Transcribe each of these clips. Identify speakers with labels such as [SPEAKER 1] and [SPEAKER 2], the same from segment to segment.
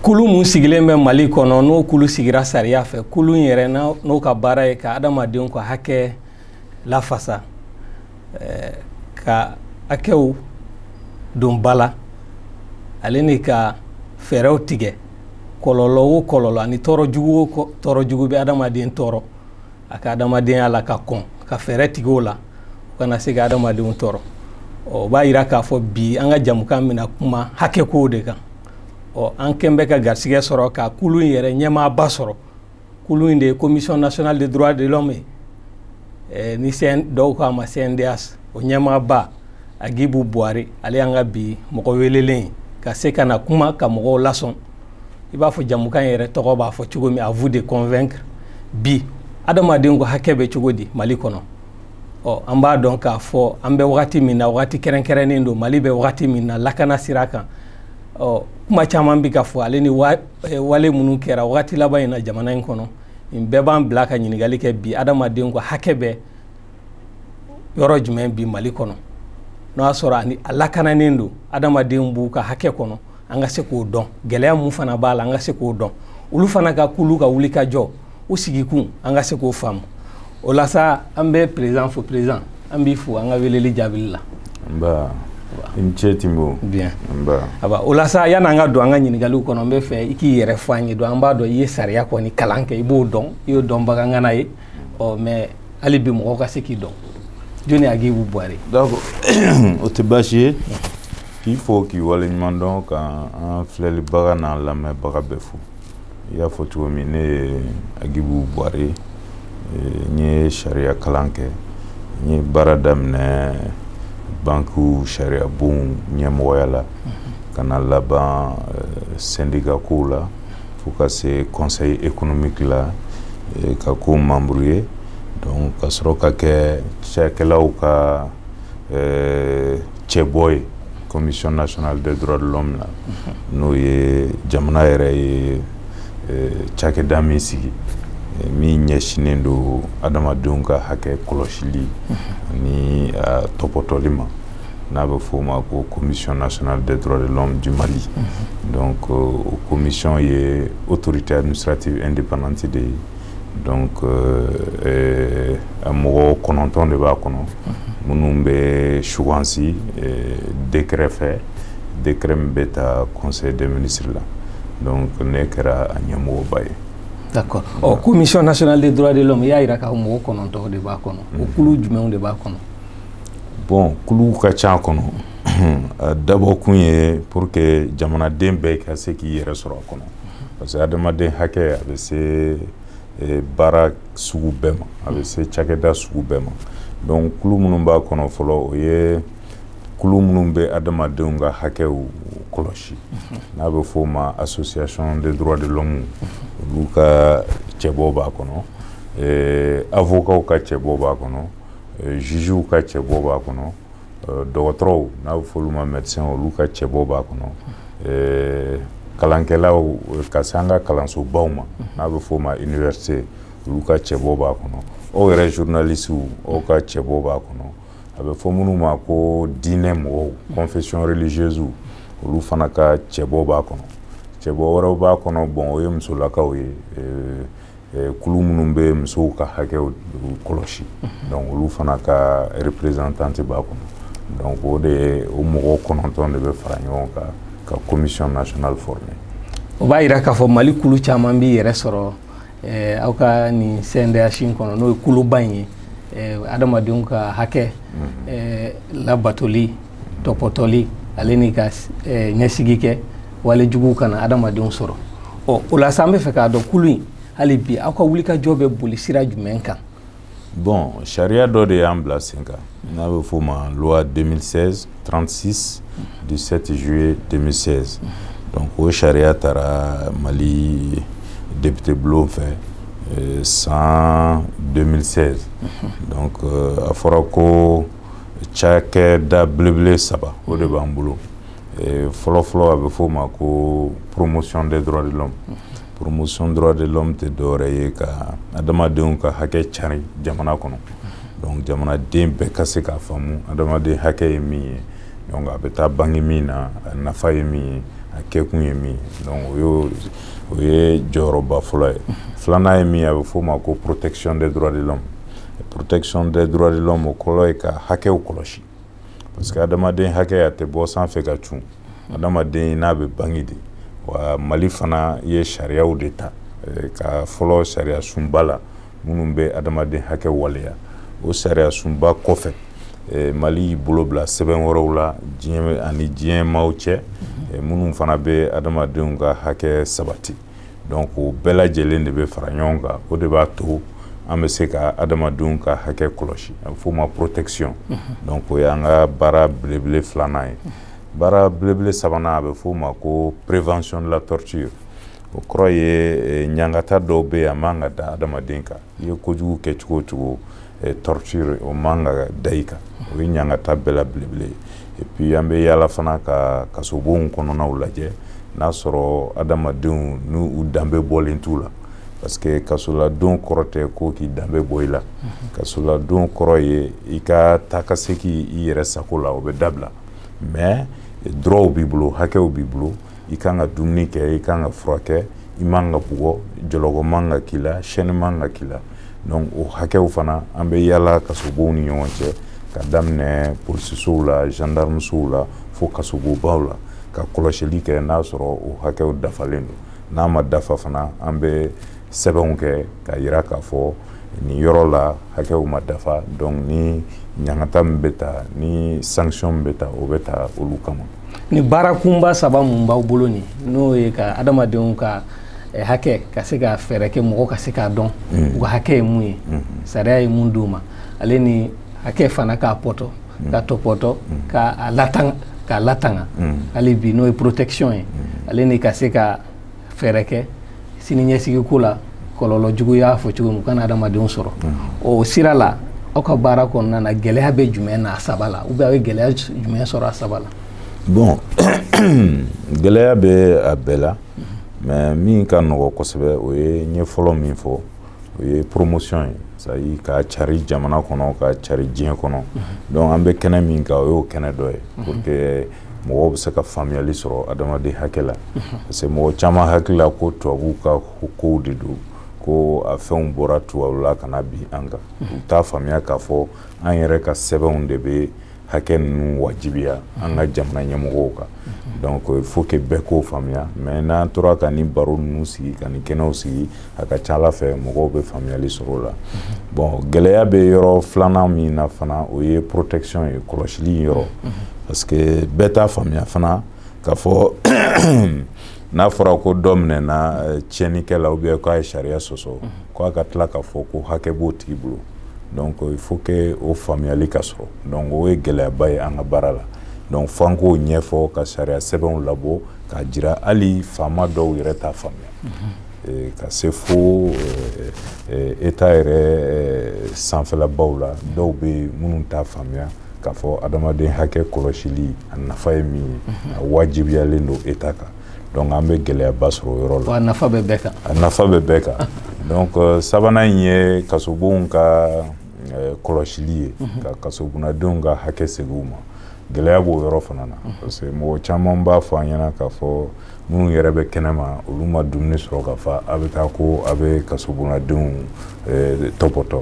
[SPEAKER 1] kulu mun sigilen bɛ mali kɔnɔ n'o kulu sigira sariya fɛ kulu in yɛrɛ n'o ka baara ye ka adamadenw ka hakɛ lafasa eh, ka hakɛw don ba la ale ni ka fɛɛrɛw tigɛ kɔlɔlɔ o kɔlɔlɔ ani tɔɔrɔ jugu o tɔɔrɔ jugu bɛ adamaden tɔɔrɔ a ka adamadenya la ka kɔn ka fɛɛrɛ tigɛ o la o kana se ka adamadenw tɔɔrɔ o b'a yira k'a fɔ bi an ka jamukan bɛna kuma hakɛkow de kan ɔ an kɛn bɛ ka garisɛgɛ sɔrɔ ka kulu in yɛrɛ ɲɛmaaba sɔrɔ kulu in de ye commission nationale des droits de l'homme ye eh, ni CN, dɔw k'a ma CNDH o ɲɛmaaba Agibu Buwari ale y'an ka bi mɔgɔ welelen ye ka se ka na kuma ka mɔgɔw lasɔn i b'a fɔ jamukan yɛrɛ tɔgɔ b'a fɔ cogo min à vous de convaincre bi adamaden ko hakɛ bɛ cogo di Mali kɔnɔ ɔ an b'a dɔn k'a fɔ an bɛ wagati min na wagati kɛrɛnkɛrɛnnen don mali bɛ wagati min na lakana sira kan ɔ kuma caman bɛ ka fɔ ale ni eh, wale minnu kɛra wagati laban in na jamana in kɔnɔ nin bɛɛ b'an bila ka ɲininkali kɛ bi adamadenw ka hakɛ bɛ yɔrɔ jumɛn bi mali kɔnɔ n'o y'a sɔrɔ a lakananen don adamadenw b'u ka hakɛ kɔnɔ an ka se k'o dɔn gɛlɛya mun fana b'a la an ka se k'o dɔn olu fana ka kulu ka wuli ka jɔ u sigikun an ka se k'o faamu o la sa an bɛ président fo président an b'i fo an ka weleli jaabili la
[SPEAKER 2] nba i ni ce tinbo bien
[SPEAKER 1] nba aba o la sa yan'an ka don an ka ɲininkaliw kɔnɔ n bɛ fɛ i k'i yɛrɛ fɔ an ye donc an b'a dɔn i ye sariya kɔni kalan kɛ i b'o dɔn i y'o dɔnbaga ŋana ye ɔ mais hali bi mɔgɔw ka se k'i dɔn jɔni agibu buwari
[SPEAKER 2] d'accord o tɛ baasi ye k'i fo k'i waleɲuman dɔn ka an filɛlibaga n'an lamɛnbaga bɛɛ fo i y'a fɔ cogo min ne ye agibu buwari n ye sariya kalan kɛ n ye baara daminɛ bankiw sariyabon ɲɛmɔgɔya la ka na laban sɛndika kow la fo ka se conseil économique la eh, ka k'o membre ye donc ka sɔrɔ ka kɛ cakɛlaw ka eh, cɛbɔ ye commission nationale des droits de l'homme la mhm. n'o ye jamana yɛrɛ ye eh, cakɛda min sigi min ɲɛsinnen don adamadenw ka hakɛ kɔlɔsili mhm. ani tɔpɔtɔli ma n'a bɛ f'o ma ko commission nationale des droits de l'homme du Mali mhm. donc euh, o commission ye autorité administrative indépendante de ye donc euh, euh, a mɔgɔ kɔnɔntɔn de b'a kɔnɔ mhm. minnu bɛ sugansi décret fɛ décret min bɛ ta conseil des ministres la donc ne kɛra a ɲɛmɔgɔba ye d'accord ɔ
[SPEAKER 1] commission nationale des droits de l'homme i y'a jira k'a fɔ mɔgɔ kɔnɔntɔn de b'a kɔnɔ o mhm. kulu jumɛnw de b'a kɔnɔ
[SPEAKER 2] bon kulu ka ca kɔnɔ a dabɔ kun ye pour que jamanaden bɛɛ ka se k'i yɛrɛ sɔrɔ a kɔnɔ parce que adamaden hakɛ a bɛ se e, baara sugu bɛɛ ma a bɛ se cakɛda sugu bɛɛ ma donc kulu minnu b'a kɔnɔ fɔlɔ o ye kulu minnu bɛ adamadenw ka hakɛw kɔlɔsi n'a bɛ f'o ma association des droits de l'homme olu ka cɛbɔ b'a kɔnɔ eh, avocaw ka cɛbɔ b'a kɔnɔ Euh, jugew ka cɛbɔ b'a kɔnɔ euh, dɔgɔtɔrɔw n'a bɛ f'olu ma médecin olu ka cɛbɔ b'a kɔnɔ euh, kalankɛlaw ka se an ka kalansobaw ma n'a bɛ f'o ma université olu ka cɛbɔ b'a kɔnɔ aw yɛrɛ journalisiw aw ka cɛbɔ b'a kɔnɔ a bɛ fɔ minnu ma ko diinɛ mɔgɔw confession religieuse olu fana ka cɛbɔ b'a kɔnɔ cɛbɔ wɛrɛw b'a kɔnɔ bon o ye musolakaw ye kulu minnu bɛ musow ka hakɛw kɔlɔsi donc olu fana ka représentante b'a kɔnɔ donc o de ye o mɔgɔ kɔnɔntɔn de bɛ fara ɲɔgɔn kan ka commission nationale former o b'a yira
[SPEAKER 1] k'a fɔ mali kulu caman b'i yɛrɛ sɔrɔ eh, aw ka nin cndh in kɔnɔ n'o ye kuluba in ye eh, adamadenw ka hakɛ mhm. eh, labatoli topotoli ale ni ka eh, ɲɛsigi kɛ wale jugu kana adamadenw sɔrɔ ɔ o la sa an bɛ fɛ k'a dɔn kulu in hali bi aw ka wulikajɔ bɛ boli sira jumɛn kan bon
[SPEAKER 2] sariya dɔ de y'an bila sen kan n'a bɛ f'o ma loi 2016 36 du 7 juillet 2016 donc o sariya taara mali député bulon fɛ eh, san 2016 donc euh, a fɔra ko cakɛda belebele saba o de b'an bolo fɔlɔfɔlɔ a bɛ f'o ma ko promotion des droits de l'homme promotion droits de l'homme tɛ dɔwɛrɛ ye ka adamadenw ka hakɛ cari jamana kɔnɔ donc jamanaden bɛɛ ka se k'a faamu adamaden hakɛ ye min ye donc a bɛ taa bange min na a nafa ye min ye a kɛkun ye min ye donc o ye jɔyɔrɔba fɔlɔ ye filanan ye min ye a bɛ f'o ma ko protection des droits de l'homme protection des droits de l'homme o kɔrɔ ye ka hakɛw kɔlɔsi parce que adamaden hakɛ a tɛ bɔ sanfɛ ka cun adamaden n'a bɛ bange de wa mali fana ye sariyaw de ta eh, ka fɔlɔ sariya sunba la minnu bɛ adamaden hakɛ waleya o sariya sunba kɔfɛ eh, mali y'i bolo bila sɛbɛn wɛrɛw la a ni diɲɛ maaw cɛ eh, minnu fana bɛ adamadenw ka hakɛ sabati donc o bɛɛ lajɛlen de bɛ fara ɲɔgɔn kan o de b'a to an bɛ se ka adamadenw ka hakɛ kɔlɔsi a bɛ f'o ma protection donc o y'an ka baara belebele filanan ye baara belebele sabanan a bɛ f'o ma ko prévention de la torture o kɔrɔ ye ɲangata dɔw bɛ yen a man ka da adamaden kan i ye kojugu kɛ cogo o cogo eh, torture o man ka da i kan o ye ɲangata bɛɛ la belebele ye et puis an bɛ yaala fana ka kasobonw kɔnɔnaw lajɛ n'a sɔrɔ adamadenw n'u danbe bɔlen t'u la parce que kasoladon kɔrɔ tɛ ko k'i danbe bɔ i la mhm. kasoladon kɔrɔ ye i ka taa ka seki i yɛrɛ sago la o bɛ dabila mais droitw b'i bolo hakɛw b'i bolo i kan ka dumuni kɛ i kan ka furakɛ i man ka bugɔ jɔlɔkɔ man ka k'i la chaîne man ka k'i la donc o hakɛw fana an bɛ yaala kasobonw ni ɲɔgɔn cɛ ka daminɛ polisisow la gendarmesow la fo kasobobaw la ka kɔlɔsili kɛ n'a sɔrɔ o hakɛw dafalen don n'a ma dafa fana an bɛ sɛbɛnw kɛ ka yira k'a fɔ nin yɔrɔ la hakɛw ma dafa donc ni ɲangata min bɛ ta ni sanction min bɛ ta o bɛ ta olu kama ni baara
[SPEAKER 1] kunba saba mun b'aw bolo nin n'o ye ka adamadenw ka eh, hakɛ ka se ka fɛɛrɛ kɛ mɔgɔ ka se k'a dɔn mm. u ka hakɛ ye mun ye mm-hmm. sariya ye mun d'u ma ale ni hakɛ fana k'a pɔtɔ mm. k'a tɔpɔtɔ mm. ka a latanga k'a latanga hali bi n'o ye protection ye ale ni ka se ka fɛɛrɛ kɛ sini ɲɛsigi ko la kɔlɔlɔ jugu y'a fɔ cogo min kana adamadenw sɔrɔ o sira la aw ka baara kɔnɔna na gɛlɛya bɛ jumɛn na a saba la ou bien aw ye gɛlɛya jumɛn sɔrɔ a saba la bon
[SPEAKER 2] gɛlɛya bɛ a bɛɛ la mais min ka nɔgɔ kosɛbɛ o ye n ye fɔlɔ min fɔ o ye promotion ye c'est-à-dire k'a cari jamana kɔnɔ k'a cari diɲɛ kɔnɔ donc an bɛ kɛnɛ min kan o y'o kɛnɛ dɔ ye pour que mɔgɔw bɛ se ka faamuyali sɔrɔ adamaden hakɛ la parce que mɔgɔ caman hakili la ko tubabuw ka kow de don ko a fɛnw bɔra tubabu la ka na bin an kan u t'a faamuya k'a fɔ an yɛrɛ ka sɛbɛnw de bɛ hakɛ ninnu wajibiya an ka jamana ɲɛmɔgɔw kan donc il faut que bɛɛ k'o faamuya mais n'an tora ka nin baro ninnu sigi ka nin kɛnɛw sigi a ka ca ala fɛ mɔgɔw bɛ faamuyali sɔrɔ o la bon gɛlɛya bɛ yɔrɔ filanan min na fana o ye protection ye kɔlɔsili yɔrɔ parce que bɛɛ t'a faamuya fana k'a fɔ n'a fɔra ko dɔ minɛna eh, tiɲɛnikɛ la ou bien k'a ye sariya sɔsɔ ko a ka tila k'a fɔ ko hakɛ b'o tigi bolo donc il faut que o faamuyali ka sɔrɔ donc o ye gɛlɛyaba ye an ka baara la donc f'an k'o ɲɛfɔ ka sariya sɛbɛnw labɔ k'a jira hali faama dɔw yɛrɛ t'a faamuya ka se fo État yɛrɛ sanfɛlabaw la dɔw bɛ minnu t'a faamuya k'a fɔ adamaden hakɛ kɔlɔsili a nafa ye min ye a wajibiyalen don État kan donc an bɛ gɛlɛyaba sɔrɔ o yɔrɔ la a nafa bɛ bɛɛ
[SPEAKER 1] kan
[SPEAKER 2] a
[SPEAKER 1] nafa bɛ
[SPEAKER 2] bɛɛ kan donc sabanan in ye kasobonw ka kɔlɔsili ye ka kasobunadenw ka hakɛ segin u ma gɛlɛya b'o yɔrɔ fana na parce que mɔgɔ caman b'a fɔ an ɲɛna k'a fɔ minnu yɛrɛ bɛ kɛnɛ ma olu ma dumuni sɔrɔ ka fa a bɛ taa ko a bɛ kasobonnadenw eh, tɔpɔtɔ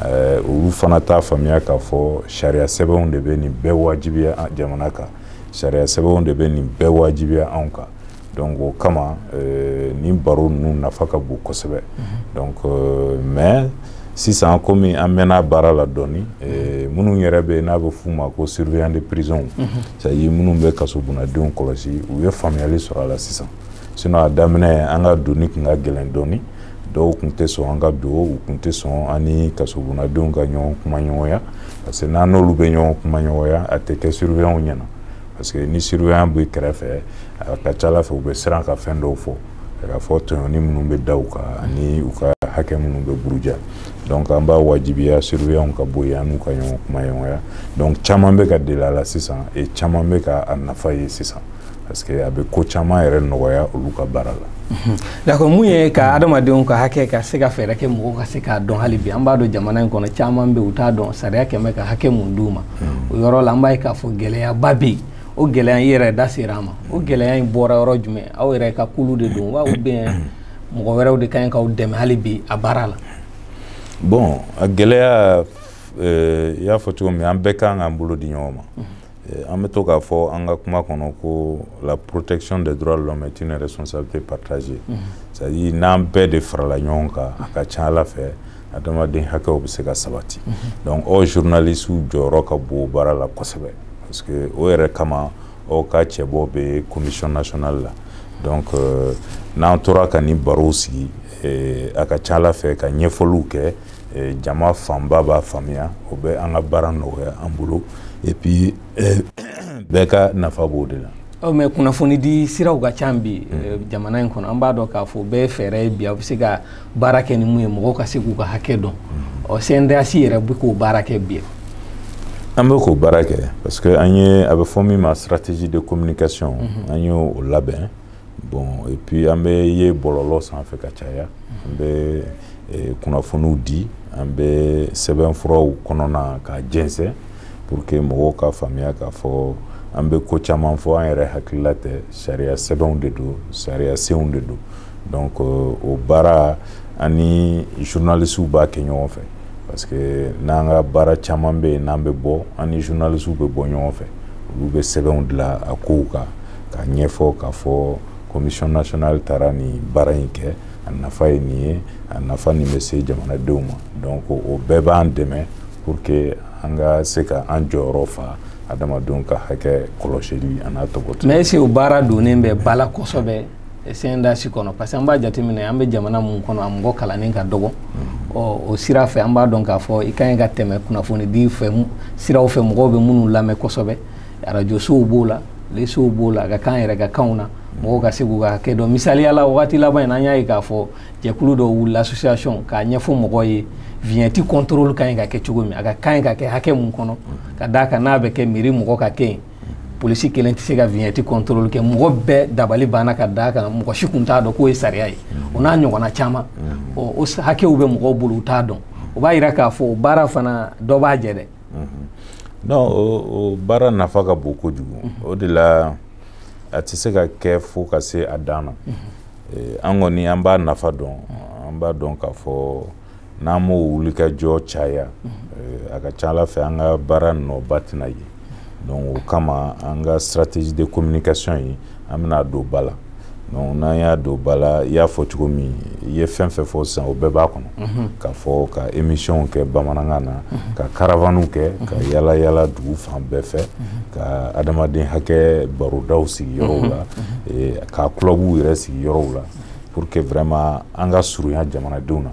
[SPEAKER 2] eh, olu fana t'a faamuya k'a fɔ sariya sɛbɛnw de bɛ nin bɛɛ wajibiya jamana kan sariya sɛbɛnw de bɛ nin bɛɛ wajibiya anw kan donc o kama euh, nin baro ninnu nafa ka bon kosɛbɛ mhm. donc euh, mais sisan komi an mɛnna baara la dɔɔni euh, minnu yɛrɛ bɛ n'a bɛ f'u ma ko surveillant de prison mhm. c'est à dire minnu bɛ kasobonnadenw kɔlɔsi u ye faamuyali sɔrɔ a la sisan sinon a daminɛ an ka donni tun ka gɛlɛn dɔɔni dɔw tun tɛ sɔn an ka don u tun tɛ sɔn an ni kasobonnadenw ka ɲɔgɔn kumaɲɔgɔnya parce que n'an n'olu bɛ ɲɔgɔn kumaɲɔgɔnya a tɛ kɛ surveillant ɲɛna parce que ni surveillant bɛ kɛrɛfɛ a ka ca a la fɛ u bɛ siran ka fɛn dɔw fɔ k'a fɔ tɔɲɔni minnu bɛ da u kan ani u ka hakɛ minnu bɛ buruja donc an b'a wajibiya surveillant ka bɔ yen an n'u ka ɲɔgɔn kumaɲɔgɔnya donc caman bɛ ka deli a la sisan et caman bɛ ka a nafa ye sisan parce que a bɛ ko caman yɛrɛ nɔgɔya olu ka baara la d'accord mun
[SPEAKER 1] ye ka adamadenw ka hakɛ ka se ka fɛɛrɛ kɛ mɔgɔw ka se k'a dɔn hali bi an b'a dɔn jamana in kɔnɔ caman bɛ u t'a dɔn sariya kɛ bɛ ka hakɛ mun d'u ma hmm. o yɔrɔ la an b'a ye k'a fɔ gɛlɛyaba bɛ yen o gɛlɛya i yɛrɛ da sera a ma o gɛlɛya in bɔra yɔrɔ jumɛn aw yɛrɛ ka kulu de don wa ou bien hmm. mɔgɔ wɛrɛw de ka ɲi k'aw dɛmɛ hali bi a baara la bon
[SPEAKER 2] a gɛlɛya eh, i y'a fɔ cogo min an bɛɛ kan k'an bolo di ɲɔgɔn ma hmm. Eh, an bɛ to k'a fɔ an ka kuma kɔnɔ ko la protection des droits de l'homme est une responsabilité partagée mhm. c'est à dire n'an bɛɛ de farala ɲɔgɔn kan a ka ca a la fɛ adamaden hakɛw bɛ se ka sabati mhm. donc aw journalistew jɔyɔrɔ ka bon o baara la kosɛbɛ parce que o yɛrɛ kama aw ka cɛbɔ bɛ commission nationale la donc euh, n'an tora ka nin barow sigi eh, a ka ca a la fɛ ka ɲɛfɔliw kɛ eh, jama fanba b'a faamuya o bɛ an ka baara nɔgɔya an bolo et puis eh, bɛɛ ka nafa b'o de la mais kunnafonidi
[SPEAKER 1] siraw ka ca bi mm. eh, jamana in kɔnɔ an b'a dɔn k'a fɔ bɛɛ fɛɛrɛ ye bi aw bɛ se ka baara kɛ ni mun ye mɔgɔw ka se k'u ka hakɛ dɔn mm. ɔ cndh yɛrɛ bɛ k'o baara kɛ bi an bɛ
[SPEAKER 2] k'o baara kɛ parce que an ye a bɛ fɔ min ma stratégie de communication mm-hmm. an y'o labɛn bon et puis an bɛ ye bɔlɔlɔ sanfɛ ka caya an bɛ eh, kunnafoniw di an bɛ sɛbɛnfuraw kɔnɔna ka jɛnsɛn pour que mɔgɔw ka faamuya k'a fɔ an bɛ ko caman fɔ an yɛrɛ hakilila tɛ sariya sɛbɛnw de don sariya senw de don donc euh, o baara an ni journalistew b'a kɛ ɲɔgɔn fɛ parce que n'an ka baara caman bɛ yen n'an bɛ bɔ an ni journalistew bɛ bɔ ɲɔgɔn fɛ olu bɛ sɛbɛnw dilan a kow kan ka ɲɛfɔ k'a fɔ commission nationale taara nin baara in kɛ a nafa ye nin ye a nafa nin bɛ se jamanadenw ma donc o bɛɛ b'an dɛmɛ pour que an ka se ka an jɔyɔrɔ fa adamadenw ka hakɛ kɔlɔsili an'a tɔgɔtɔ mais est-ce que o baara donnen bɛ ba la kosɛbɛ CNDH kɔnɔ parce que an b'a jateminɛ an bɛ jamana mun kɔnɔ a mɔgɔ kalannen ka dɔgɔ mm-hmm. ɔ o sira fɛ an b'a dɔn k'a fɔ i ka ɲi ka tɛmɛ kunnafoni di fɛ siraw fɛ mɔgɔw bɛ minnu lamɛn kosɛbɛ arajosow b'o la telesow b'o la k'a k'an yɛrɛ ka kanw na mɔgɔw ka se k'u ka hakɛ dɔn misaliya la wagati laban in an y'a ye k'a fɔ jɛkulu dɔ wulila association k'a ɲɛfɔ mɔgɔw ye vignette contrôle ka ɲi ka kɛ cogo min a ka kan ka kɛ hakɛ mun kɔnɔ ka d'a kan n'a bɛ kɛ mairie mɔgɔ ka kɛ yen polisi kelen tɛ se ka vignette contrôle kɛ mɔgɔ bɛɛ dabali banna ka d'a kan mɔgɔ si kun t'a dɔn k'o ye sariya ye o n'a ɲɔgɔnna caman o hakɛw bɛ mɔgɔw bolo u t'a dɔn o b'a yira k'a fɔ baara fana dɔ b'a jɛ dɛ Donc o baara nafa ka bon kojugu o de la a tɛ se ka kɛ fo ka se a dan na an kɔni an b'a nafa dɔn an b'a dɔn k'a fɔ n'an m'o wulikajɔ caya a ka ca ala fɛ an ka baara nɔba tɛna ye donc o kama an ka stratégie de communication ye an bɛn'a don ba la donc n'an y'a don ba la i y'a fɔ cogo min i ye fɛn fɛn fɔ sisan o bɛɛ b'a kɔnɔ mhm. k'a fɔ ka émissionw kɛ bamanankan na mhm. ka caravanew kɛ ka mhm. yala yala dugu fan bɛɛ fɛ ka adamaden hakɛ barodaw sigi yɔrɔw la ka clubw yɛrɛ sigi yɔrɔw la pour que vraiment an ka surunya jamanadenw na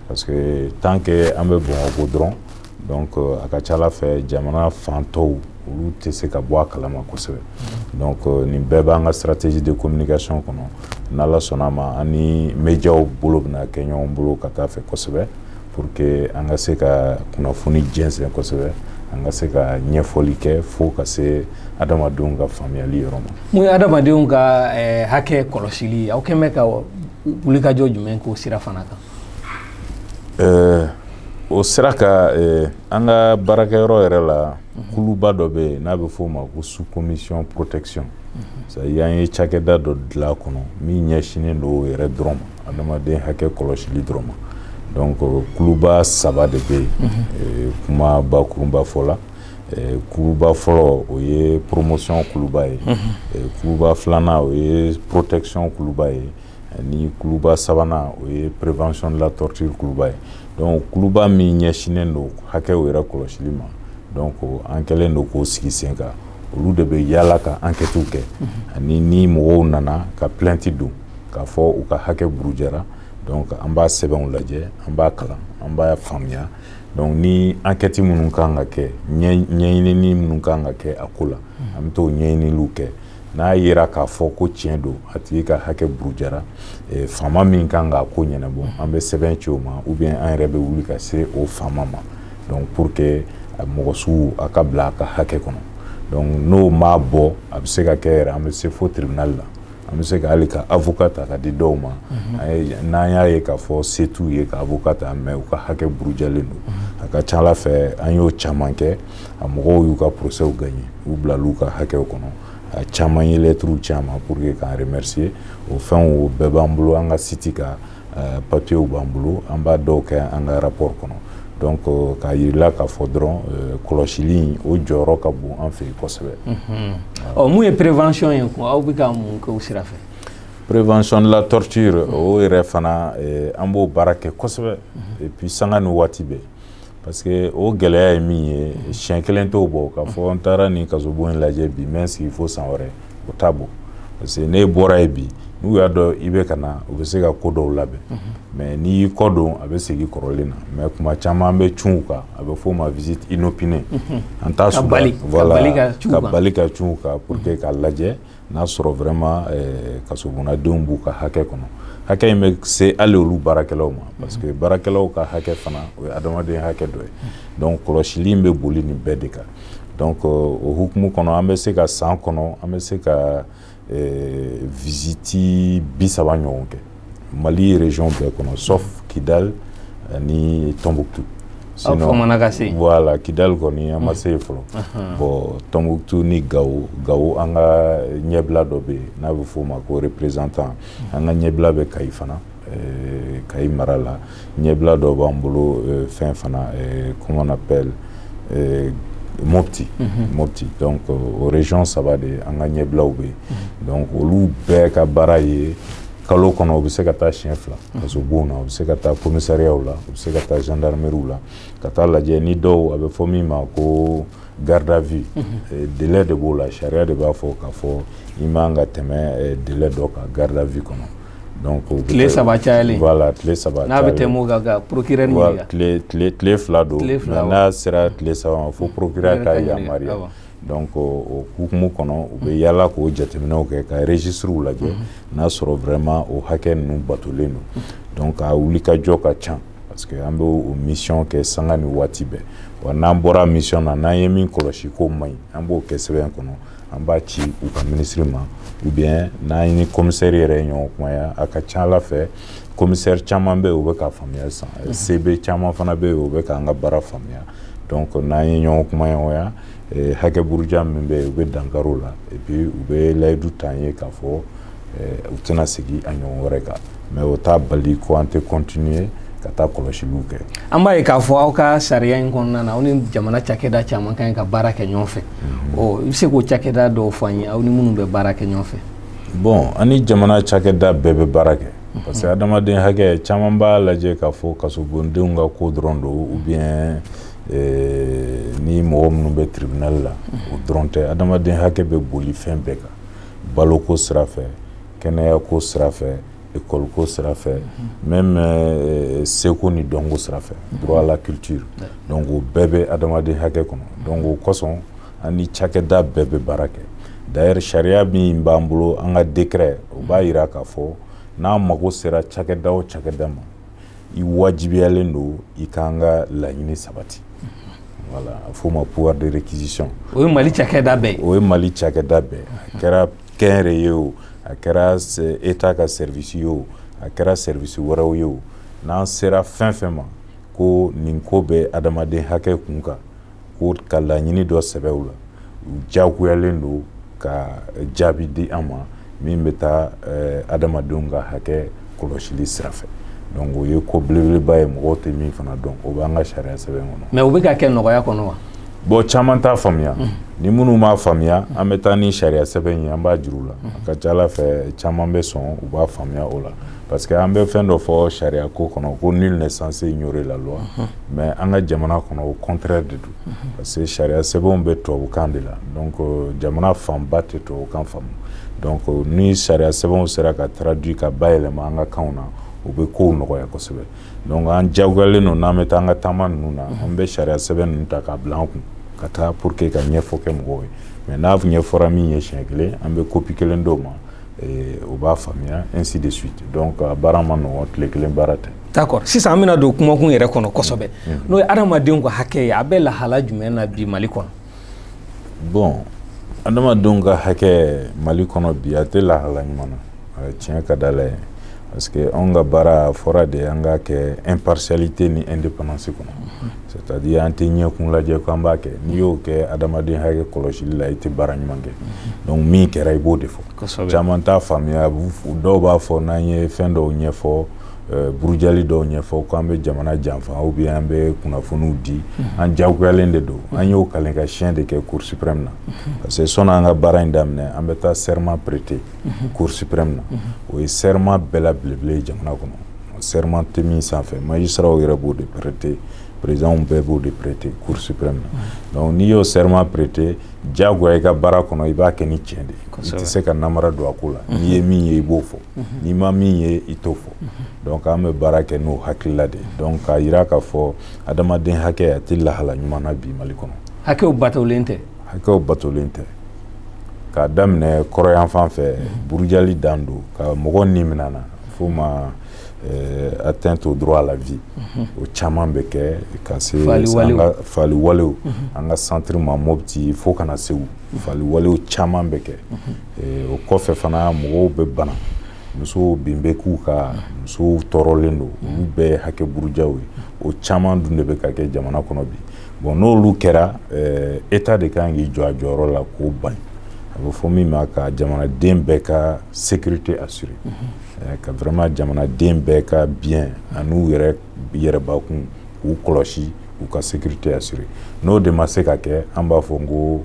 [SPEAKER 2] parce que tant que an bɛ Bamakɔ dɔrɔn donc euh, a ka ca ala fɛ jamana fan tɔw olu tɛ se ka bɔ a kalama kosɛbɛ donc euh, nin bɛɛ b'an ka stratégie de communication kɔnɔ n'ala sɔnn'a ma an ni médiaw bolo bɛna kɛ ɲɔgɔn bolo ka taa fɛ kosɛbɛ pour que an ka se ka kunnafoni jɛnsɛn kosɛbɛ an ka se ka ɲɛfɔli kɛ fo ka se adamadenw ka faamuyali yɔrɔ ma mun ye adamadenw ka eh, hakɛ kɔlɔsili
[SPEAKER 1] aw kɛn bɛ ka wulikajɔ jumɛn k'o sira fana kan eh,
[SPEAKER 2] o sira kan eh, an ka baarakɛyɔrɔ yɛrɛ la mhm. kuluba dɔ bɛ yen n'a bɛ f'o ma ko sous commission protection mhm. c'est-à-dire an ye cakɛda dɔ dilan a kɔnɔ min ɲɛsinnen don o yɛrɛ dɔrɔn ma adamaden hakɛ kɔlɔsili dɔrɔn ma donc kuluba saba de bɛ yen mhm. eh, kuma bakurunba fɔ la Eh, kuluba fɔlɔ o ye promotion kuluba ye eh, kuluba filanan o ye protection kuluba ye ni kuluba sabanan o ye prévention de la torture kuluba ye donc kuluba min ɲɛsinnen don hakɛw yɛrɛ kɔlɔsili ma donc an kɛlen don k'o sigi sen kan olu de bɛ yaala ka enquêtew kɛ mhm. ani ni mɔgɔw nana ka plainte don k'a fɔ u ka hakɛ burujara donc an b'a sɛbɛnw lajɛ an b'a kalan an b'a faamuya donc ni enquête minnu kan ka kɛ ɲɛɲinini minnu kan ka kɛ a ko la mhm. an bɛ t'o ɲɛɲiniliw kɛ n'a yera k'a fɔ ko tiɲɛ don a tigi ka hakɛ burujara eh, faama min kan k'a ko ɲɛnabɔ mm. an bɛ sɛbɛn ci o ma ou bien an yɛrɛ bɛ wuli ka se o faama ma donc pour que eh, mɔgɔ sugu a ka bila a ka hakɛ kɔnɔ donc n'o m'a bɔ a bɛ se ka kɛ yɛrɛ an bɛ se fo tribunal la an bɛ se ka hali ka avocat ta ka di dɔw ma mm-hmm. n'an y'a ye k'a fɔ se t'u ye ka avocat ta mais u ka hakɛ burujalen don mm-hmm. a ka ca ala fɛ an y'o caman kɛ a mɔgɔw y'u ka procès gagné u bilal'u ka hakɛw kɔnɔ a caman ye lɛtiriw ci an ma pour que k'an remercier o fɛnw o bɛɛ b'an bolo an ka siti ka euh, papiyew b'an bolo an b'a dɔw kɛ an ka rapport kɔnɔ donc euh, k'a yirila k'a fɔ dɔrɔn euh, kɔlɔsili in o jɔyɔrɔ ka bon an fɛ yen kosɛbɛ ɔ mun ye
[SPEAKER 1] prévention ye ko aw bɛ ka mun kɛ o sira fɛ prévention
[SPEAKER 2] de la torture o yɛrɛ fana an b'o baara kɛ kosɛbɛ et puis sanga ni waati bɛɛ parce que o gɛlɛya ye min ye siɲɛ kelen t'o bɔ k'a fɔ n taara nin kasobon in lajɛ bi n bɛ n sigi fo san wɛrɛ o t'a bɔ parce que n'e bɔra yen bi n'u y'a dɔn i bɛ ka na u bɛ se ka ko dɔw labɛn mais n'i y'i kɔ don a bɛ segin kɔrɔlen na mais kuma caman an bɛ cun u kan a bɛ f'o ma visite inopinée an taa ka bali ka cun u kan pour que k'a lajɛ n'a sɔrɔ vraiment eh, kasobonnadenw b'u ka hakɛ kɔnɔ hakɛ in bɛ se hali olu baarakɛlaw ma parce que baarakɛlaw ka hakɛ fana o ye adamadenya hakɛ dɔ ye donc kɔlɔsili in bɛ boli nin bɛɛ de kan donc eh, o hukumu kɔnɔ an bɛ se ka san kɔnɔ an bɛ se ka eh, visiti bi saba ɲɔgɔn kɛ mali region bɛɛ kɔnɔ sauf kidal ni tombouctou sinon
[SPEAKER 1] ka se voilà
[SPEAKER 2] kidal kɔni an ma se yen fɔlɔ bon tombouctou ni gawo gawo an ka ɲɛbila dɔ bɛ yen n'a bɛ f'o ma ko représentant an ka ɲɛbila bɛ kayi fana kayi mara la ɲɛbila dɔ b'an bolo euh, fɛn fana euh, comment on appelle euh, mopti mm -hmm. mopti donc euh, o région saba de an ka ɲɛbilaw bɛ yen mm -hmm. donc olu bɛɛ ka baara ye kalo kɔnɔ u bɛ se ka taa siɲɛ fila mhm. kasobon na u bɛ se ka taa commissariyaw la u bɛ se ka taa gendarmeriw la ka taa lajɛ ni dɔw a bɛ fɔ min ma ko garde à vue mm -hmm. délai de b'o la sariya de b'a fɔ k'a fɔ i man ka tɛmɛ délai dɔ kan garde à vue kɔnɔ donc tile saba cayalen
[SPEAKER 1] voilà tile saba n'a
[SPEAKER 2] bɛ tɛmɛ o kan ka
[SPEAKER 1] procureur ɲininka tile tile tile fila
[SPEAKER 2] don mais n'a sera tile saba ma fo procureur ka yamaruya donc o hukumu kɔnɔ u bɛ yaala k'o jateminɛw kɛ ka registres lajɛ mhm. n'a sɔrɔ vraiment o hakɛ ninnu batolen don mhm. donc a wulikajɔ ka ca parce que an bɛ o mission kɛ sanga ni waati bɛɛ wa n'an bɔra mission na n'an ye min kɔlɔsi k'o man ɲi an b'o kɛ sɛbɛn kɔnɔ an b'a ci u ka minisiri ma ou bien n'an ni komisɛri yɛrɛ ye ɲɔgɔn kumaya a ka ca a la fɛ komisɛri caman bɛ yen u bɛ k'a faamuya san mhm. CB caman fana bɛ yen u bɛ k'an ka baara faamuya donc n'an ye ɲɔgɔn kumaɲɔgɔnya eh, hakɛ buruja min bɛ yen u bɛ dankari o la et puis u bɛ layidu ta an ye k'a fɔ eh, u tɛna segin a ɲɔgɔn wɛrɛ kan mais o t'a bali ko an tɛ kɔntiniye ka taa kɔlɔsiliw kɛ an b'a ye k'a fɔ
[SPEAKER 1] aw ka sariya in kɔnɔna na aw ni jamana cakɛda caman ka ɲi ka baara kɛ ɲɔgɔn fɛ mhm. ɔ i bɛ se k'o cakɛda dɔw fɔ an ye aw ni minnu bɛ baara kɛ ɲɔgɔn fɛ bon an ni
[SPEAKER 2] jamana cakɛda bɛɛ bɛ baara kɛ mhm. parce que adamaden hakɛ caman b'a lajɛ k'a fɔ kasobondenw ka ko dɔrɔn don ou bien eh, ni mɔgɔ minnu bɛ tribunal la mhm. o dɔrɔn tɛ adamaden hakɛ bɛ boli fɛn bɛɛ kan baloko sira fɛ kɛnɛya ko sira fɛ école ko sira fɛ même euh, seko ni dɔnko sira fɛ droit à la culture donc o bɛɛ bɛ adamaden hakɛ kɔnɔ donc o kosɔn an ni cakɛda bɛɛ bɛ baara kɛ d'ailleurs sariya min b'an bolo an ka décret o b'a yira k'a fɔ n'an mago sera cakɛda o cakɛda ma i wajibiyalen don i k'an ka laɲini sabati voilà a f'o ma pouvoir de réquisition o ye mali cakɛda
[SPEAKER 1] bɛɛ ye o ye mali cakɛda
[SPEAKER 2] bɛɛ a kɛra kɛnyɛrɛye o a kɛra état ka service ye o a kɛra service wɛrɛw ye o n'an sera fɛn fɛn ma ko nin ko bɛ adamaden hakɛ kun kan ko ka laɲini dɔ sɛbɛn u la jagoyalen don ka jaabi di an ma min bɛ taa adamadenw ka hakɛ kɔlɔsili sira fɛ donc o ye ko belebeleba ye mɔgɔw tɛ min fana dɔn o b'an ka sariya sɛbɛn kɔnɔ mais o bɛ ka kɛ nɔgɔya
[SPEAKER 1] kɔnɔ wa bon caman t'a
[SPEAKER 2] faamuya mm. ni minnu m'a faamuya an bɛ taa ni sariya sɛbɛn ye an b'a jir'u la mm. a ka ca a la fɛ caman bɛ sɔn u b'a faamuya o la parce que an bɛ fɛn dɔ fɔ sariya ko kɔnɔ ko nul n'est censé ignorer la loi mm-hmm. mais an ka jamana kɔnɔ o contraire de don parce que sariya sɛbɛnw bɛ tubabukan de la donc euh, jamana fanba tɛ tubabukan faamu donc euh, ni sariya sɛbɛnw sera ka traduit ka bayɛlɛma an ka kanw na o bɛ kow nɔgɔya kosɛbɛ donc an jagoyalen don n'an bɛ taa an ka taama ninnu na an bɛ sariya sɛbɛn ninnu ta k'a bila an kun ka taa pour que ka ɲɛfɔ kɛ mɔgɔw ye mais n'a ɲɛfɔra min ye siɲɛ kelen an bɛ kopi kelen d'o ma o b'a faamuya ainsi de suite donc a baara man nɔgɔn tile kelen baara tɛ d'accord sisan an bɛna
[SPEAKER 1] don kumakun yɛrɛ kɔnɔ kosɛbɛ mm. n'o ye adamadenw ka hakɛ ye a bɛ lahala jumɛn na bi mali kɔnɔ
[SPEAKER 2] bon adamadenw ka hakɛ mali kɔnɔ bi a tɛ lahala ɲuman na tiɲɛ ka di ala ye parce que anw ka baara a fɔra de an k'a kɛ impartialité ni indépendance kɔnɔ mm-hmm. c'est à dire an tɛ ɲɛkun lajɛ ko an b'a kɛ n'i y'o kɛ adamaden hakɛ kɔlɔsili la i tɛ baara ɲuman kɛ mm-hmm. donc min kɛra i b'o de fɔ caman t'a faamuya dɔw b'a fɔ n'an ye fɛn dɔw ɲɛfɔ burujali dɔw ɲɛfɔ k'an bɛ jamana janfa ou bien an bɛ kunnafoniw di an jagoyalen de don an y'o kalen ka siyɛn de kɛ Cour suprême na parce que sanni an ka baara in daminɛ an bɛ taa serment prêter Cour suprême na o ye serment bɛɛ la belebele ye jamana kɔnɔ serment tɛ min sanfɛ magistratw yɛrɛ b'o de prêter président bɛɛ b'o de prêter Cour suprême na n'i y'o serment prêter jagoya i ka baara kɔnɔ i b'a kɛ ni tiɲɛ de i tɛ se ka namara don a ko la n'i ye min ye i b'o fɔ mhm. n'i ma min ye i t'o fɔ mhm. donc an bɛ baara kɛ n'o hakilila de donc k'a yira k'a fɔ adamaden hakɛ a tɛ lahala ɲuman na bi mali kɔnɔ hakɛw batolen
[SPEAKER 1] tɛ hakɛw batolen tɛ
[SPEAKER 2] k'a daminɛ kɔrɔyanfan fɛ mhm. burujali dan don ka mɔgɔ ni minɛ n'a fɔ ma euh, atteinte au droit à la vie o caman bɛ kɛ ka se faliwalew an ka centre ma mopti fo ka na segu faliwalew caman bɛ kɛ eh, o kɔfɛ fana mɔgɔw bɛ bana musow bin bɛ k'u kan musow tɔɔrɔlen don olu bɛɛ ye hakɛ burujaw ye o caman dun de bɛ ka kɛ jamana kɔnɔ bi bon n'olu kɛra eh, état de kan k'i jɔ a jɔyɔrɔ la k'o ban a bɛ fɔ min ma ka jamanaden bɛɛ ka sécurité assurer eh, ka vraiment jamanaden bɛɛ ka bien an'u yɛrɛ yɛrɛbakun k'u kɔlɔsi u ka sécurité assurer n'o de ma se ka kɛ an b'a fɔ ko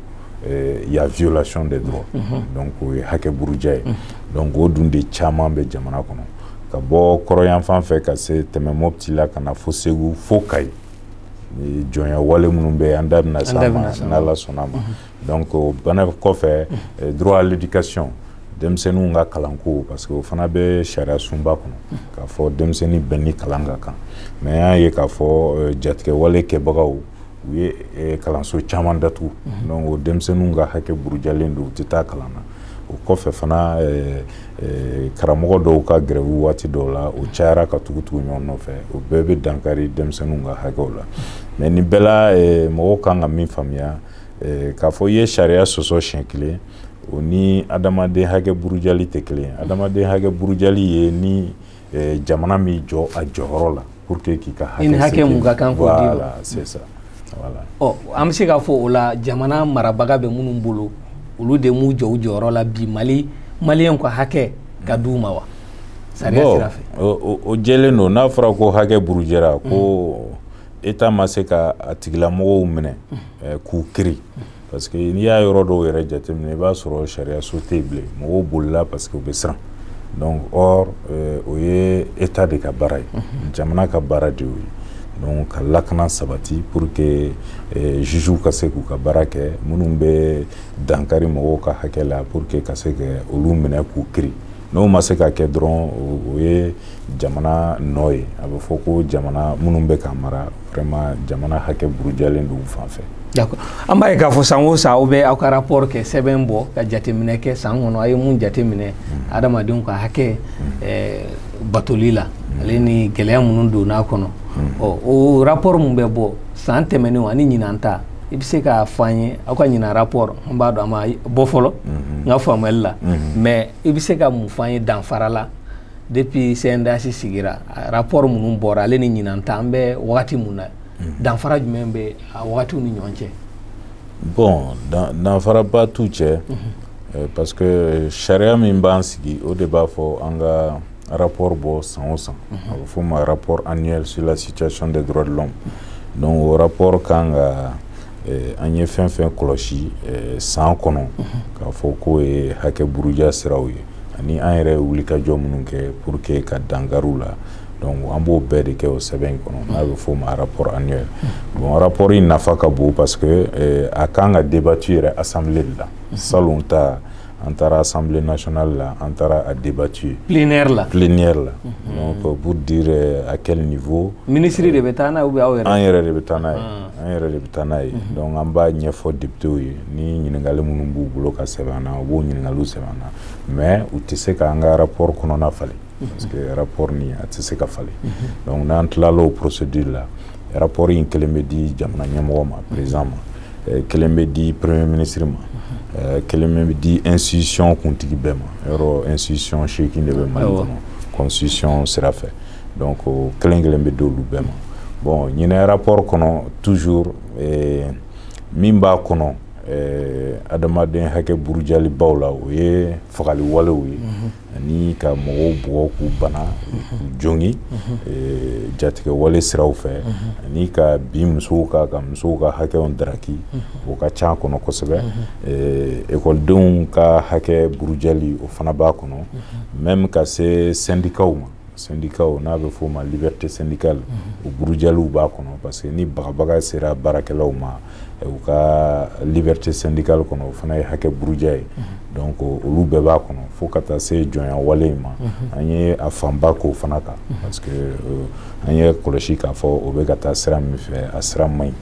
[SPEAKER 2] eh, y a violation des droits mm -hmm. donc o ye hakɛ buruja ye mm -hmm. donc o dun de caman bɛ jamana kɔnɔ ka bɔ kɔrɔyanfan fɛ ka se tɛmɛ mɔpti la ka na fo segu fo kayi jɔnya wale minnu bɛ an da bɛna s'a ma n'ala sɔnna ma mm -hmm. donc o bana kɔfɛ eh, droit à l'éducation denmisɛnninw ka kalanko parce que o fana bɛ sariya sunba kɔnɔ k'a fɔ denmisɛnnin bɛɛ ni kalan ka kan mais an y'a ye k'a fɔ eh, jatigɛwale kɛbagaw u ye eh, kalanso caman datugu mhm. donc o denmisɛnninw ka hakɛ burujalen don u tɛ taa kalan na o kɔfɛ fana karamɔgɔ dɔw ka grève waati dɔw la o cayara ka tugutugu ɲɔgɔn nɔfɛ o bɛɛ bɛ dankari denmisɛnninw ka hakɛw la mais nin bɛɛ la mɔgɔw kan ka min faamuya Eh, k'a fɔ i ye sariya sɔsɔ siɲɛ kelen o ni adamaden hakɛ burujali tɛ kelen adamaden hakɛ burujali ye ni eh, jamana m'i jɔ a jɔyɔrɔ la pour que k'i ka hakɛ hakɛ min ka kan
[SPEAKER 1] k'o d'i ma voilà c'est ça
[SPEAKER 2] voilà ɔ an bɛ se
[SPEAKER 1] k'a fɔ o la jamana marabaga bɛ minnu bolo olu de m'u jɔ u jɔyɔrɔ la bi mali maliyɛnw ka hakɛ ka d'u ma wa sariya sira fɛ o jɛlen don
[SPEAKER 2] n'a fɔra ko hakɛ burujara ko état ma se ka a tigilamɔgɔw minɛ eh, k'u kiri parce que n'i y'a yɔrɔ dɔw yɛrɛ jateminɛ i b'a sɔrɔ sariyaso tɛ yen bilen mɔgɔw bolila parce que u bɛ siran donc or eh, o ye état de ka baara ye jamana ka baara de y'o ye donc ka lakana sabati pour que eh, jugew ka se k'u ka baara kɛ minnu bɛ dankari mɔgɔw ka hakɛ la pour que ka se ka olu minɛ k'u kiri n'o ma se ka kɛ dɔrɔn o ye jamana nɔ ye a bɛ fɔ ko jamana minnu bɛ ka mara vraiment jamana hakɛ burujalen don u fan fɛ d'accord an b'a ye k'a
[SPEAKER 1] fɔ san o san aw bɛ aw ka rapport kɛ sɛbɛn bɔ ka jateminɛ kɛ san kɔnɔ a ye mun jateminɛ hmm. adamadenw ka hakɛ hmm. eh, batoli la hmm. ale ni gɛlɛya minnu donn'a kɔnɔ ɔ o rapport mun bɛ bɔ san tɛmɛnenw ani ɲinan ta i bɛ se k'a fɔ an ye aw ka ɲinan rapport an b'a dɔn a ma bɔ fɔlɔ n ka faamuyali la mais i bɛ se ka mun fɔ an ye danfara la depuis CNDH sigira rapport minnu bɔra ale ni ɲinan ta an bɛ wagati mun na danfara jumɛn bɛ a wagatiw ni ɲɔgɔn cɛ.
[SPEAKER 2] bon danfaraba t'u cɛ parce que sariya min b'an sigi o de b'a fɔ an ka. rapport bɔ san o san a bɛ f'o ma rapport annuel sur la situation des droits de l'homme donc o rapport kan ka eh, an ye fɛn fɛn kɔlɔsi eh, san kɔnɔ k'a fɔ k'o ye hakɛ buruja siraw ye ani an yɛrɛ ye wulikajɔ minnu kɛ pour que ka dankari u la donc an b'o bɛɛ de kɛ o sɛbɛn in kɔnɔ n'a bɛ f'o ma rapport annuel bon rapport in nafa ka bon parce que eh, a kan ka débattu yɛrɛ assemblée de la salon ta an taara assemblée nationale la an taara a débattu yen plénière la
[SPEAKER 1] plénière la
[SPEAKER 2] donc euh, pour dire euh, à quel niveau ministre de bɛ taa
[SPEAKER 1] n'a ye ou bien aw yɛrɛ an yɛrɛ de bɛ taa n'a ye
[SPEAKER 2] an yɛrɛ de bɛ taa n'a ye donc an b'a ɲɛfɔ députéw ye ni ɲininkali minnu b'u bolo ka sɛbɛn an na u b'o ɲininkaliw sɛbɛn an na mais u tɛ se k'an ka rapport kɔnɔna falen parce que rapport nin a tɛ se ka falen donc n'an tilala o procédure la rapport in kelen bɛ di jamana ɲɛmɔgɔ ma président ma eh, kelen bɛ di premier ministre ma eh, kelen bɛ di institution kuntigi bɛɛ ma yɔrɔ institution seegin de bɛ mali kɔnɔ constitution sira fɛ donc o kelen kelen bɛ d'olu bɛɛ ma bon ɲinan rapport kɔnɔ toujours eh, min b'a kɔnɔ adamaden hakɛ burujalibaw la o ye fagali walew ye ani ka mɔgɔw bugɔ k'u bana k'u jogin eh, jatigɛ wale siraw fɛ ani ka bin musow kan ka musow ka hakɛw daraki o ka ca a kɔnɔ kosɛbɛ eh, ekɔlidenw ka hakɛ burujali o fana b'a kɔnɔ même ka se syndicatw ma syndicatw n'a bɛ f'o ma liberté syndicale mhm. o burujaliw b'a kɔnɔ parce que ni bagabaga sera baarakɛlaw ma eh, u ka liberté syndicale kɔnɔ o fana ye hakɛ buruja ye mhm. donc olu bɛɛ b'a kɔnɔ fo ka taa se jɔnya wale in ma mhm. an ye a fanba k'o fana kan parce que euh, an y'a kɔlɔsi k'a fɔ o bɛ ka taa sira min fɛ a sira man ɲi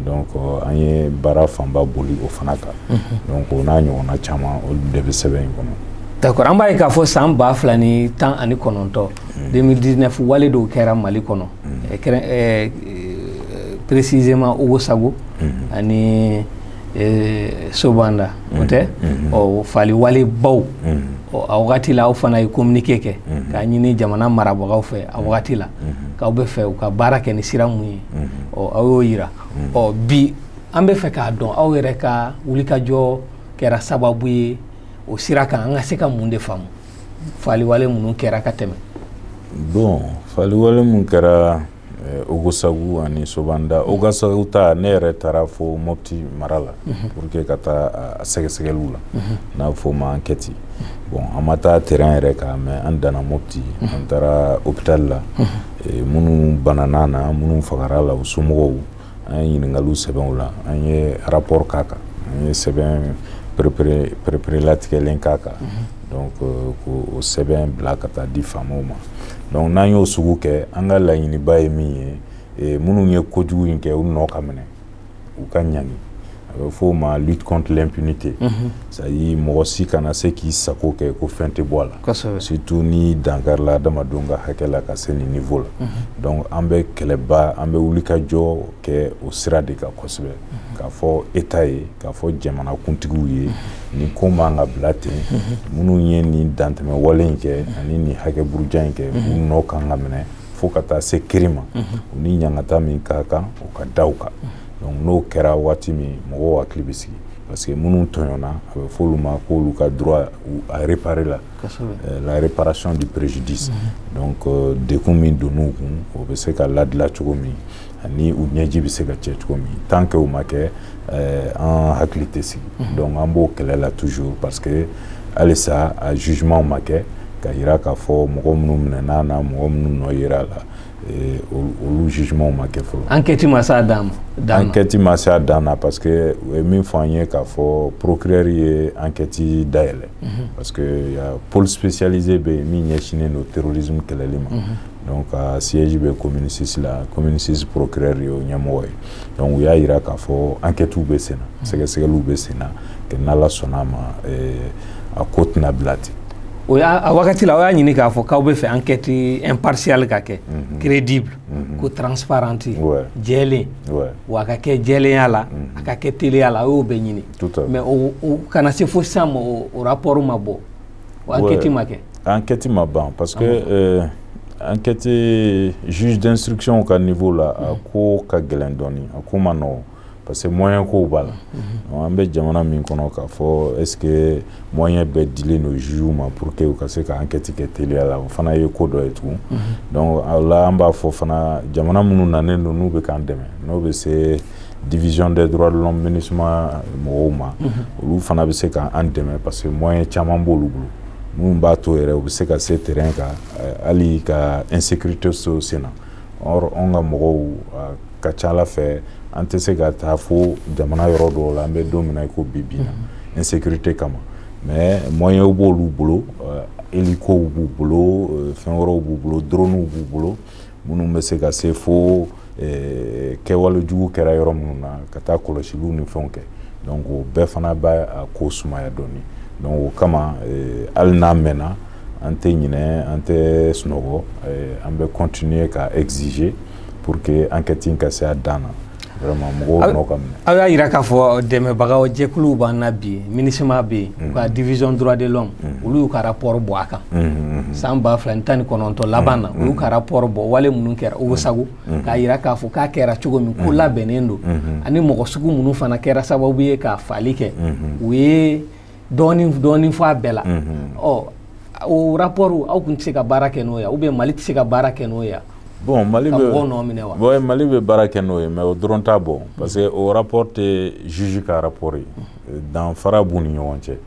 [SPEAKER 2] donc euh, an ye baara fanba boli o fana kan mhm. donc o n'a ɲɔgɔnna caman olu de bɛ sɛbɛn in kɔnɔ d'accord an b'a ye
[SPEAKER 1] k'a fɔ san ba fila ni tan ani kɔnɔntɔn 2019 mhm. wale dɔw kɛra mali kɔnɔ mhm. kɛrɛn eh, précisément ogosago ani eh, sobanda o tɛ ɔ fali wale baw a wagati la aw fana ye communiqué kɛ k'a ɲini jamana marabagaw fɛ a wagati la k'aw bɛ fɛ u ka baara kɛ ni sira mun ye ɔ aw y'o yira ɔ bi an bɛ fɛ k'a dɔn aw yɛrɛ ka wulikajɔ kɛra sababu ye o sira kan an ka se ka mun de faamu faliwale minnu kɛra ka tɛmɛ bon
[SPEAKER 2] faliwale mun kɛra eh, ogosagu ani sobanda mhm. ogosagu ta ne yɛrɛ taara fo mopti mara la mhm. pour que ka taa a sɛgɛsɛgɛliw la mhm. n'a fɔ ma enquête bon an ma taa terrain yɛrɛ kan mais an danna mopti an taara hôpital la minnu banana na minnu fagara la u somɔgɔw an ye ɲininkaliw sɛbɛn u la an ye rapport k'a kan an ye sɛbɛn pereperelatigɛlen k'a kan donc euh, k'o sɛbɛn bila ka taa di faamaw ma donc n'an y'o sugu kɛ an ka laɲiniba ye min ye minnu ye kojugu in kɛ u nɔ ka minɛ u ka ɲangi a bɛ fɔ o ma lutte contre l'impunité mhm. c'est à dire mɔgɔ si kana se k'i sago kɛ ko fɛn tɛ bɔ a la surtout n'i dankarila adamadenw ka hakɛ la ka se nin niveau la mhm. donc an bɛ kɛlɛba an bɛ wulikajɔ kɛ o sira de kan kosɛbɛ mhm. k'a fɔ état ye k'a fɔ jamanakuntigiw ye nin ko man ka bila ten minnu ye nin dantɛmɛ wale in kɛ ani nin hakɛ buruja in kɛ u nɔ kan ka minɛ fo ka taa se kiri ma u ni ɲangata min ka kan o ka da u kan donc n'o kɛra waati min mɔgɔw hakili bɛ sigi parce que minnu tɔɲɔna a bɛ f'olu ma k'olu ka droit à réparer la euh, la réparation du préjudice donc euh, dekun min donn'u kun o bɛ se ka ladila cogo min ani u ɲɛji bɛ se ka cɛ cogo min tant que o ma kɛ eh, an hakili tɛ sigi mhm. donc an b'o kɛlɛ la toujours parce que halisa a jugement ma kɛ ka yira k'a fɔ mɔgɔ minnu minɛna na mɔgɔ minnu nɔ yera a la eh, olu jugement ma kɛ fɔlɔ enquête ma s'a
[SPEAKER 1] dan ma enquête ma s'a
[SPEAKER 2] dan na parce que u ye min fɔ an ye k'a fɔ procureur ye enquête dayɛlɛ mhm. parce que pôle spécialisé bɛ yen min ɲɛsinnen don terrorisme kɛlɛli ma mhm. donc a siège bɛ commune 6 la commune 6 procureur y'o ɲɛmɔgɔ ye donc u y'a yira k'a fɔ enquêtew bɛ sen na mm. sɛgɛsɛgɛliw bɛ sen na que n'Ala sɔnna a ma eh, a ko tɛna bila ten o y'a a wagati
[SPEAKER 1] la aw y'a ɲini k'a fɔ k'aw bɛ fɛ enquête impartiale ka kɛ mhm. crédible mhm. ko transparente jɛlen wa a ka kɛ jɛlenya la mhm. a ka kɛ teliya la aw y'o bɛɛ ɲini mais o ka na se fo sisan ma o rapport ma bɔ enquête ma kɛ enquête ma
[SPEAKER 2] ban parce que euh, enquête juge d'instruction ka niveau la a mm. ko ka gɛlɛn dɔɔni a ko ma nɔgɔn parce que moyen kow b'a la mm-hmm. an bɛ jamana min kɔnɔ k'a fɔ est ce que moyen bɛɛ dilen don jugew ma pour que u ka se ka enquête kɛ teliya la o fana ye ko dɔ ye tugun mm-hmm. donc o la an b'a fɔ fana jamana minnu nanen don n'u bɛ k'an dɛmɛ n'o bɛ se division des droits de l'homme MINUSMA mɔgɔw ma olu fana bɛ se ka an dɛmɛ parce que moyen caman b'olu bolo minnu b'a to yɛrɛ u bɛ se ka se terrain kan eh, hali ka insécurité to sen na or anw ka mɔgɔw a ka ca ala fɛ an tɛ se ka taa fo jamana yɔrɔ dɔw la an bɛ don min na i ko bi bi na insécurité kama mais moyens b'olu bolo eh, hélicow b'u bolo eh, fɛn wɛrɛw b'u bolo dronew b'u bolo minnu bɛ se ka se fo eh, kɛwale jugu kɛra yɔrɔ minnu na ka taa kɔlɔsiliw ni fɛnw kɛ donc o bɛɛ fana bɛ a ko sumaya dɔɔni donc o kama eh, hali n'a mɛnna an tɛ ɲinɛ an tɛ sunɔgɔ eh, an bɛ continuer ka exiger pour que enquête in ka se a dan na aw y'a yira k'a
[SPEAKER 1] fɔ dɛmɛbagaw jɛkuluw b'an na bi MINUSMA bɛ yen u ka division droit de l'homme olu y'u ka rapport bɔ a kan san ba fila ni tan ni kɔnɔntɔn laban na u y'u ka rapport bɔ wale minnu kɛra Ogossagou k'a yira k'a fɔ k'a kɛra cogo min ko labɛnnen don ani mɔgɔ sugu minnu fana kɛra sababu ye ka faali kɛ u ye dɔɔnin dɔɔnin fɔ a bɛɛ la ɔ o rapport aw kun tɛ se ka baara kɛ n'o ye ou bien mali tɛ se ka baara kɛ n'o ye bon mali bɛ mɔgɔw
[SPEAKER 2] nɔ minɛ wa bon mali bɛ baara kɛ n'o ye mais o dɔrɔn t'a bɔ parce que o rapport tɛ juge ka rapport ye danfara b'u ni ɲɔgɔn cɛ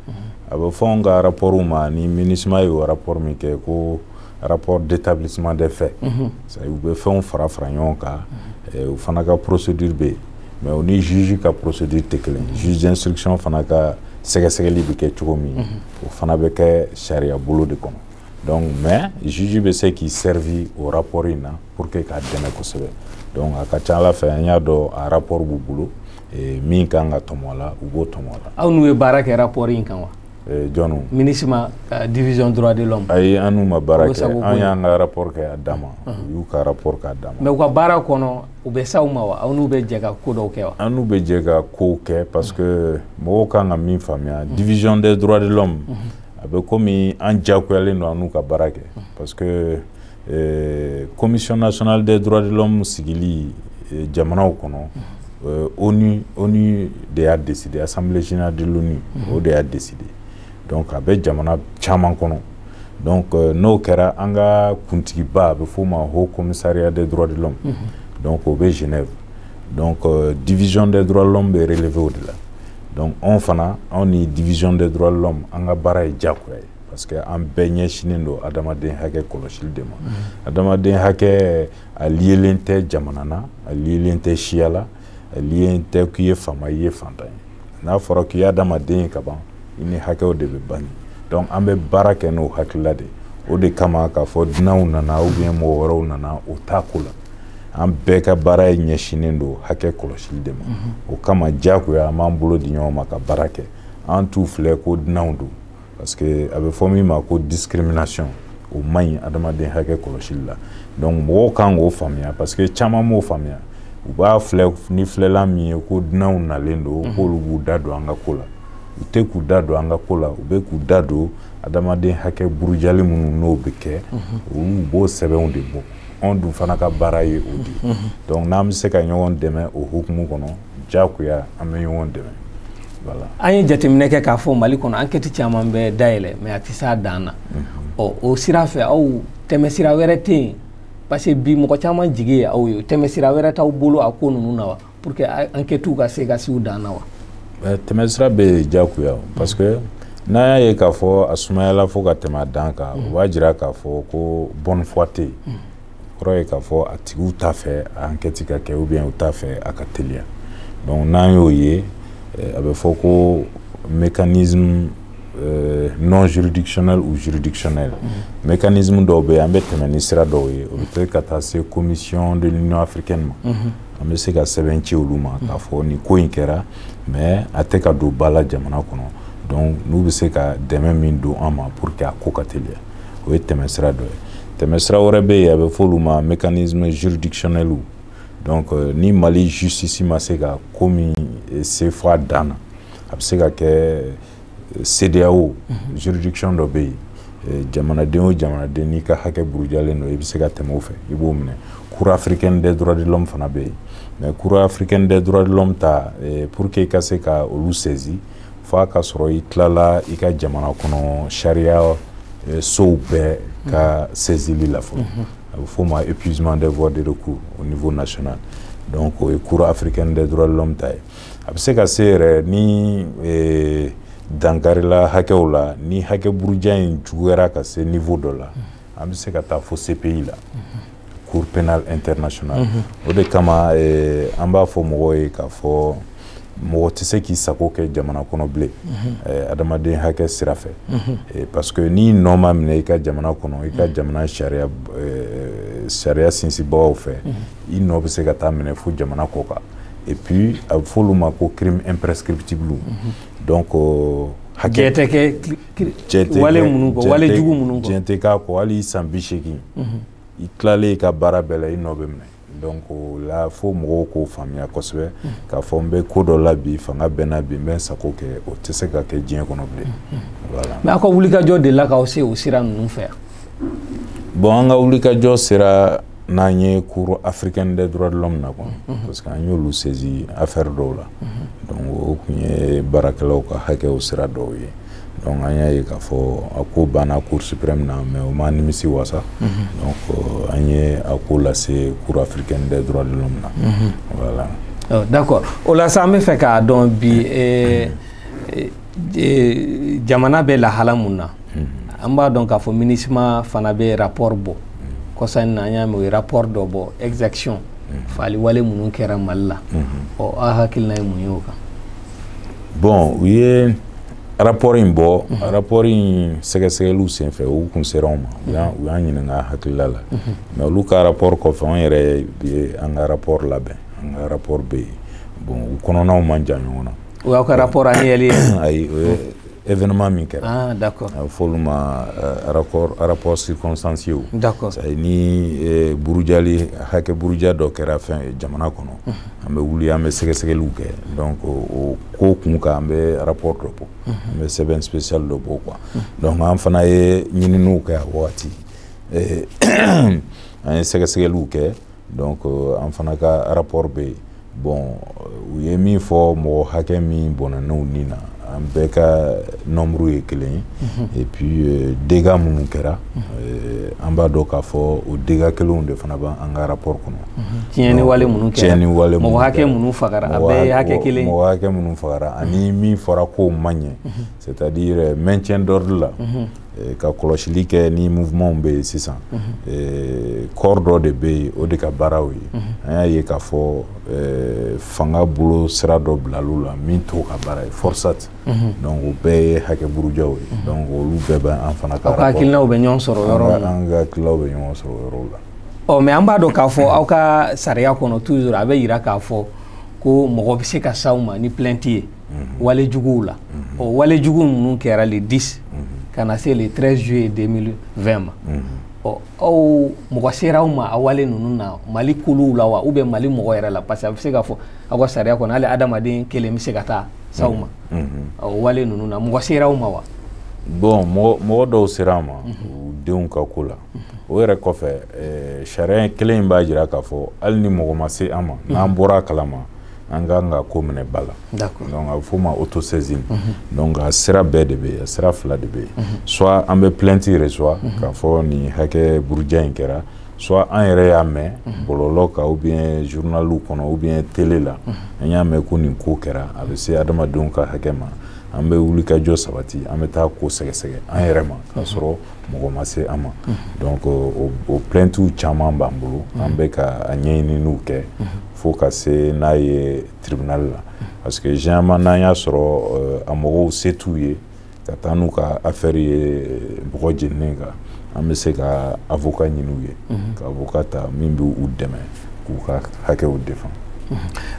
[SPEAKER 2] a bɛ fɔ anw ka rapportw ma ni MINUSMA ye o rapport min kɛ ko rapport d'établissement des faits mhm. u bɛ fɛnw fara fara ɲɔgɔn kan mhm. eh, u fana ka procédure bɛ yen mais o ni juge ka procédure tɛ kelen mhm. juge d'instruction fana ka sɛgɛsɛgɛli bɛ kɛ cogo min o fana bɛ kɛ sariya bolo de kɔnɔ donc mais juge bɛ se k'i servi o rapport in na pour que k'a dɛmɛ kosɛbɛ donc a ka ca ala fɛ an y'a dɔn a rapport b'u bolo eh, min kan ka tɔmɔ a la u b'o tɔmɔ a la aw n'u ye baara kɛ rapport in kan wa Eh, jɔnw MINUSMA eh, division droit de l'homme ayi an n'u ma baara kɛ an y'an ka rapport kɛ a dama u y'u ka rapport k'a dama mais u ka baara kɔnɔ u bɛ s'aw ma wa aw n'u bɛ jɛ ka ko dɔw kɛ wa an n'u bɛ jɛ ka kow kɛ parce que mɔgɔw kan ka min faamuya division des droits de l'homme a bɛ komi an diyagoyalen don an n'u ka baara kɛ parce que commission nationale des droits de l'homme sigili jamanaw kɔnɔ ONU ONU de y'a décider assemblée générale de l'ONU o de y'a décider donc a bɛ jamana caman kɔnɔ donc n'o kɛra an ka kuntigiba a bɛ f'o ma haut commissariat des droits de l'homme donc o bɛ Genève donc division des droits de l'homme bɛ relever o de la donc anw fana anw ni division des droits de l'homme an ka baara ye diyagoya ye. parce que an bɛɛ ɲɛsinnen don adamaden hakɛ kɔlɔsili de ma mm-hmm. adamaden hakɛ a liyelen tɛ jamana na a liyelen tɛ siya la a liyelen tɛ k'i ye faama i ye fantan ye n'a fɔra k'i ye adamaden ye ka ban i ni hakɛw de bɛ bange donc an bɛ baara kɛ n'o hakilila de o de kama k'a fɔ dunanw nana ou bien mɔgɔ wɛrɛw nana o t'a ko la an bɛɛ ka baara ye ɲɛsinnen don hakɛ kɔlɔsili de ma mm-hmm. o kama diyagoya an b'an bolo di ɲɔgɔn ma ka baara kɛ an t'u filɛ ko dunanw don parce que a bɛ fɔ min ma ko discrimination o man ɲi adamaden hakɛ kɔlɔsili la donc mɔgɔw kan k'o faamuya parce que caman m'o faamuya u b'a filɛ ni filɛlan min ye ko dunanw nalen don mhm. k'olu b'u da don an ka ko la u tɛ k'u da don an ka ko la u bɛ k'u da don adamaden hakɛ burujali minnu n'o bɛ kɛ mhm. olu b'o sɛbɛnw de bɔ anw dun fana ka baara ye o de ye mhm. donc n'an bɛ se ka ɲɔgɔn dɛmɛ o hukumu kɔnɔ diyagoya an bɛ ɲɔgɔn dɛmɛ voilà an ye jateminɛ kɛ k'a fɔ mali kɔnɔ enquête caman bɛ dayɛlɛ mais a tɛ s'a dan na mhm. ɔ o sira fɛ aw tɛmɛsira wɛrɛ tɛ yen parce que bi mɔgɔ caman jigi ye aw ye tɛmɛsira wɛrɛ t'aw bolo a ko ninnu na wa pour que enquêtew ka se ka s'u dan na wa tɛmɛsira bɛ diyagoya parce que n'an y'a ye k'a fɔ a sumayala fo ka tɛmɛ a dan kan o b'a jira k'a fɔ ko bonne foi tɛ yen mhm. kɔrɔ ye k'a fɔ a tigiw t'a fɛ a enquête ka kɛ ou bien u t'a fɛ a ka teliya donc n'an y'o ye eh, a bɛ fɔ ko mécanisme euh, non juridictionnel ou juridictionnel mm-hmm. mécanisme dɔw bɛ yen an bɛ tɛmɛ ni sira dɔw ye o bɛ kɛ ka taa se commission de l'union africaine ma mm-hmm. an bɛ se ka sɛbɛn ci olu ma k'a fɔ nin ko in kɛra mais a tɛ ka don ba la jamana kɔnɔ donc n'u bɛ se ka dɛmɛ min don an ma pour que a ko ka teliya o ye tɛmɛsira dɔ ye tɛmɛsira wɛrɛ bɛ yen a bɛ fɔ olu ma mécanisme juridictionnel donc euh, ni mali justice ma se ka ko min eh, se fo a dan na a bɛ se ka kɛ eh, CEDEAO mhm. juridiction dɔ bɛ yen eh, jamanaden o jamanaden n'i ka hakɛ burujalen don i bɛ se ka tɛmɛ o fɛ i b'o minɛ cour africaine des droits de l'homme fana bɛ yen mais cour africaine des droits de l'homme ta pour que i ka se ka olu saisi f'a ka sɔrɔ i tilala i ka jamana kɔnɔ sariya eh, sow bɛɛ ka saisili la fɔlɔ mhm. a bɛ f'o ma épuisement des voies de recours au niveau national donc o ye cour africaine des droits de l'homme ta ye a bɛ se ka se yɛrɛ ni eh, dankarila hakɛw la ni hakɛ buruja in juguyara ka se niveau dɔ la mhm. an bɛ se ka taa fo CPI la mhm. cour pénale internationale mhm. o de kama eh, an b'a fɔ mɔgɔw ye k'a fɔ mɔgɔ tɛ se k'i sago kɛ jamana kɔnɔ bilen mhm. eh, adamaden hakɛ sira fɛ mhm. eh, parce que n'i nɔ ma minɛ i ka jamana kɔnɔ i ka jamana sariya sariya sinsinbagaw fɛ i nɔ bɛ se ka taa minɛ fo jamana kɔkan et puis a bɛ f'olu ma ko crime imprescriptible donc hakɛ tɛ kɛ hali san bi segin i tilalen i ka baara bɛɛ la i nɔ bɛ minɛ donc o la fo mɔgɔw k'o faamuya kosɛbɛ k'a fɔ n bɛ ko dɔ la bi fanga bɛ n na bi n bɛ n sago kɛ o tɛ se ka kɛ diɲɛ kɔnɔ bilen mais aw ka wulikajɔ
[SPEAKER 1] de la k'aw se o sira ninnu fɛ yan
[SPEAKER 2] bon an ka wulikajɔ sera n'an ye cour africaine des droits de l'homme na quoi mhm. parce que an y'olu saisi affaire dɔw la mhm. donc o tun ye baarakɛlaw ka hakɛw sira dɔw ye donc an y'a ye k'a fɔ a ko banna cour suprême na mais o m'an nimisi wasa mhm. donc euh, an ye a ko lase cour africaine des droits de l'homme na voilà euh, d'accord
[SPEAKER 1] o la sa an bɛ fɛ k'a dɔn bi e, jamana bɛ lahala mun na an b'a dɔn k'a fɔ MINUSMA fana bɛ rapport bɔ kɔsa in na an y'a mɛn u ye rapport dɔ bɔ exaction faali wale minnu kɛra mali la ɔ aw hakilina ye mun ye o kan bon
[SPEAKER 2] u ye rapport in bɔ rapport in sɛgɛsɛgɛliw senfɛ u kun sera anw ma u y'an ɲininka hakilila la mais olu ka rapport kɔfɛ anw yɛrɛ ye an ka rapport labɛn an ka rapport bɛ yen bon u kɔnɔnaw man jan ɲɔgɔn na O y'aw ka rapport annuel ye ayi o ye événement min kɛra ah d'accord a bɛ
[SPEAKER 1] f'olu
[SPEAKER 2] ma euh, rapport rapport circonstancié d'accord c'est ni
[SPEAKER 1] euh,
[SPEAKER 2] burujali hakɛ buruja dɔ kɛra fɛn jamana kɔnɔ an bɛ wuli an bɛ sɛgɛsɛgɛliw kɛ donc o ko kun kan an bɛ rapport dɔ bɔ an bɛ sɛbɛn spécial dɔ bɔ quoi donc an fana ye ɲininiw kɛ a wagati an ye sɛgɛsɛgɛliw kɛ donc euh, an fana ka rapport bɛ yen bon euh, u ye min fɔ mɔgɔ hakɛ min bɔnɛna u ni na an bɛɛ ka nombre ye kelen ye mhm. et puis euh, dégâts minnu kɛra mhm. euh, an b'a dɔn k'a fɔ o dégâts kelenw de fana b'an ka rapport kɔnɔ mhm. tiɲɛni wale
[SPEAKER 1] minnu kɛra tiɲɛni wale minnu mɔgɔ hakɛ
[SPEAKER 2] minnu
[SPEAKER 1] fagara a bɛɛ ye hakɛ kelen mɔgɔ hakɛ minnu fagara
[SPEAKER 2] ani min fɔra k'o man ɲɛ c'est à dire euh, maintien d'ordre la Eh, ka kɔlɔsili kɛ ni mouvement bɛ yen sisan eh, corps dɔ de bɛ yen o de ka baaraw ye an y'a ye k'a fɔ eh, fanga bolo sira dɔ bilal'u la min t'o ka baara ye forsat donc o bɛɛ ye hakɛ burujaw ye donc olu bɛɛ bɛ an fana ka hakilinaw bɛ ɲɔgɔn
[SPEAKER 1] sɔrɔ yɔrɔ min an ka hakilinaw bɛ
[SPEAKER 2] ɲɔgɔn sɔrɔ yɔrɔw la ɔ mais an b'a dɔn k'a
[SPEAKER 1] fɔ aw ka sariya kɔnɔ toujours a bɛ yira k'a fɔ ko mɔgɔ bɛ se ka s'aw ma ni plainte ye wale juguw la o wale jugu ninnu kɛra le 10 ka na se le 13 juillet 2020 ma ɔ aw mɔgɔ sera aw ma a wale ninnu na mali kuluw la wa ou bien mali mɔgɔ yɛrɛ la parce que a bɛ se k'a fɔ aw ka sariya kɔnɔ hali adamaden kelen bɛ se ka taa s'aw ma o wale ninnu na mɔgɔ sera aw ma wa bon
[SPEAKER 2] mɔgɔ dɔw sera an ma u denw ka ko la o yɛrɛ kɔfɛ eh, sariya kelen in b'a jira k'a fɔ hali ni mɔgɔ ma se an ma mhm. n'an bɔra a kalama an ka kan ka ko minɛ ba la donc a bɛ f'o ma autosaisine mhm. donc a sira bɛɛ de bɛ yen a sira fila de bɛ yen mhm. soit an bɛ plainte reçoit k'a fɔ nin hakɛ buruja in kɛra soit an yɛrɛ y'a mɛn bɔlɔlɔ kan ou bien journaliw kɔnɔ ou bien télé la an y'a mɛn ko nin ko kɛra a bɛ se adamadenw ka hakɛ ma an bɛ wulikajɔ sabati an bɛ taa ko sɛgɛsɛgɛ an yɛrɛ ma k'a sɔrɔ mɔgɔ ma se an ma donc o o plaintew caman b'an bolo an bɛ ka a ɲɛɲininiw kɛ fo ka se n'a ye tribunal la parce que généralement n'an y'a sɔrɔ a mɔgɔw se t'u ye ka taa n'u ka affaire ye bɔgɔ jeninen kan an bɛ se ka avocat ɲini u ye ka avocat ta min bɛ u dɛmɛ k'u ka hakɛw défend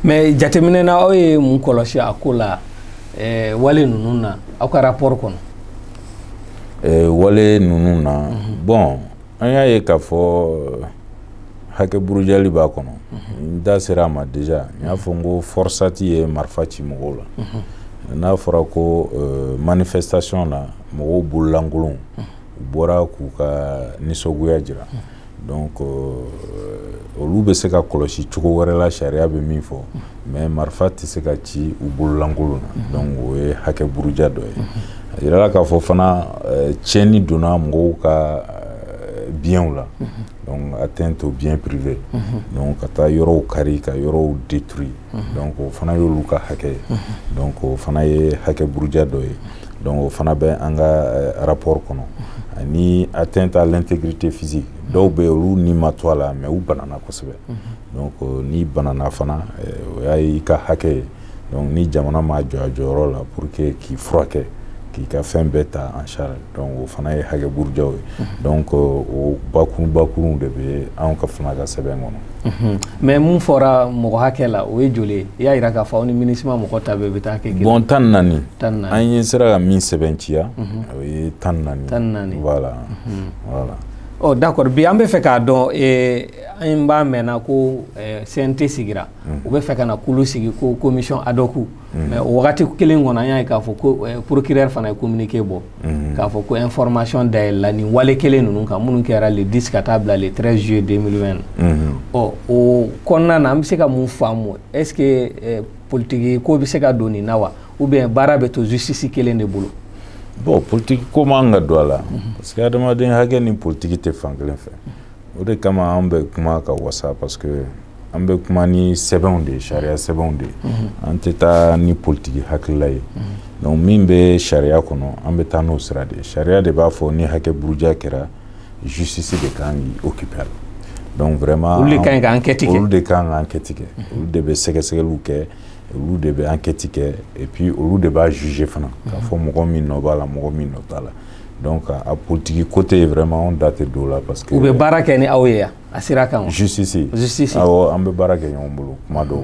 [SPEAKER 2] mais jateminɛ
[SPEAKER 1] na aw ye mun kɔlɔsi a ko la wale ninnu na aw ka rapport kɔnɔ eh, wale
[SPEAKER 2] ninnu na mhm. bon an y'a ye k'a fɔ eh, hakɛ burujali b'a kɔnɔ mhm. n da sera a ma déjà n y'a fɔ n ko FORSAT ye marifa ci mɔgɔw la mhm. n'a fɔra ko eh, manifestation na mɔgɔw bololankolonw u bɔra k'u ka nisɔngoya jira donc euh, olu bɛ se ka kɔlɔsi cogo wɛrɛ la sariya bɛ min fɔ mais marifa tɛ se ka ci u bololankolon na mhm. donc o ye hakɛ buruja dɔ ye mhm. a yirala k'a fɔ fana euh, tiɲɛni donna mɔgɔw ka euh, bienw la mhm. donc atteinte au bien privé donc ka taa yɔrɔw kari ka yɔrɔw détruit donc o fana y'olu ka hakɛ ye donc o fana ye hakɛ buruja dɔ ye donc o fana bɛ an ka euh, rapport kɔnɔ ani atteinte à l'intégrité physique dɔw bɛ olu ni ma to a la mais u banana kosɛbɛ donc euh, n'i banana fana euh, o y'a ye i ka hakɛ ye donc ni jamana m'a jɔ a jɔyɔrɔ la pour que k'i furakɛ k'i ka fɛn bɛɛ ta en charge donc o fana ye hakɛ burujaw ye donc o bakurun bakurunw de bɛ anw ka fana ka sɛbɛn kɔnɔ mais mun
[SPEAKER 1] fɔra mɔgɔ hakɛ la o ye joli ye i y'a jira k'a fɔ aw ni MINUSMA mɔgɔ ta bɛɛ bɛ taa kɛ bon tan naani
[SPEAKER 2] an yɛrɛ sera ka min sɛbɛnciya o ye tan naani tan naani voilà voilà
[SPEAKER 1] ɔ d'accord bi an bɛ fɛ k'a dɔn an b'a mɛnna ko CNT sigira u bɛ fɛ ka na kulu sigi ko commission ad hoc Mm. mais o wagati kelen kɔnɔ an y'a ye k'a fɔ ko eh, procureur fana ye communiqué bɔ mm. k'a fɔ ko information dayɛlɛla nin wale kelen ninnu kan minnu kɛra le 10 ka taa bila le 13 juillet 2020 mm-hmm. ɔ o kɔnɔna na an bɛ se ka mun faamu est-ce que eh, politiki ko bɛ se ka don nin na wa ou bien baara bɛ to justice kelen de bolo bon
[SPEAKER 2] politiki ko man ka don a la mm-hmm. parce que adamaden hakɛ ni politiki tɛ fan kelen fɛ o de kama an bɛ kuma ka wasa parce que an bɛ kuma ni sɛbɛnw de ye sariya sɛbɛnw de ye mhm. an tɛ taa ni politiki hakilila ye mhm. donc min bɛ sariya kɔnɔ an bɛ taa n'o sira de ye sariya de b'a fɔ ni hakɛ buruja kɛra justice de kan k'i occuper a la donc vraiment olu de kan ka enquête
[SPEAKER 1] kɛ olu de kan ka enquête
[SPEAKER 2] kɛ mhm. olu de bɛ sɛgɛsɛgɛliw kɛ olu de bɛ enquête kɛ et puis olu de b'a juger fana k'a fɔ mɔgɔ min nɔ b'a la mɔgɔ min nɔ t'a la donc a politiki côté vraiment anw da tɛ don o la parce que u bɛ baara kɛ ni aw ye
[SPEAKER 1] yan a sira kan justice justice awɔ
[SPEAKER 2] an bɛ baara kɛ ɲɔgɔn bolo kuma dɔw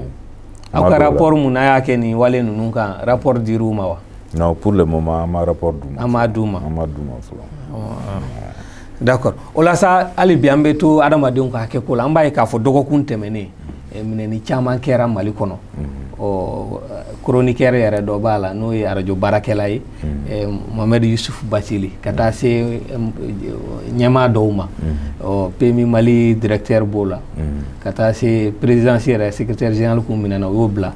[SPEAKER 2] aw ka rapport
[SPEAKER 1] mun n'a y'a kɛ nin wale ninnu kan rapport dir'u ma wa non pour le moment
[SPEAKER 2] an ma rapport d'u ma an m'a d'u ma an m'a d'u ma
[SPEAKER 1] fɔlɔ d'accord o la sa hali bi an bɛ to adamadenw ka hakɛ ko la an b'a ye k'a fɔ dɔgɔkun tɛmɛnnen eh, minɛni caman kɛra mali kɔnɔ ɔ chroniqueur yɛrɛ dɔ b'a la n'o ye arajo baarakɛla ye eh, mohamed yusuf batili ka taa se eh, ɲɛmaa dɔw ma ɔ PMU mali directeur b'o la ka taa se présidence yɛrɛ secrétaire général k'u minɛna o y'o bila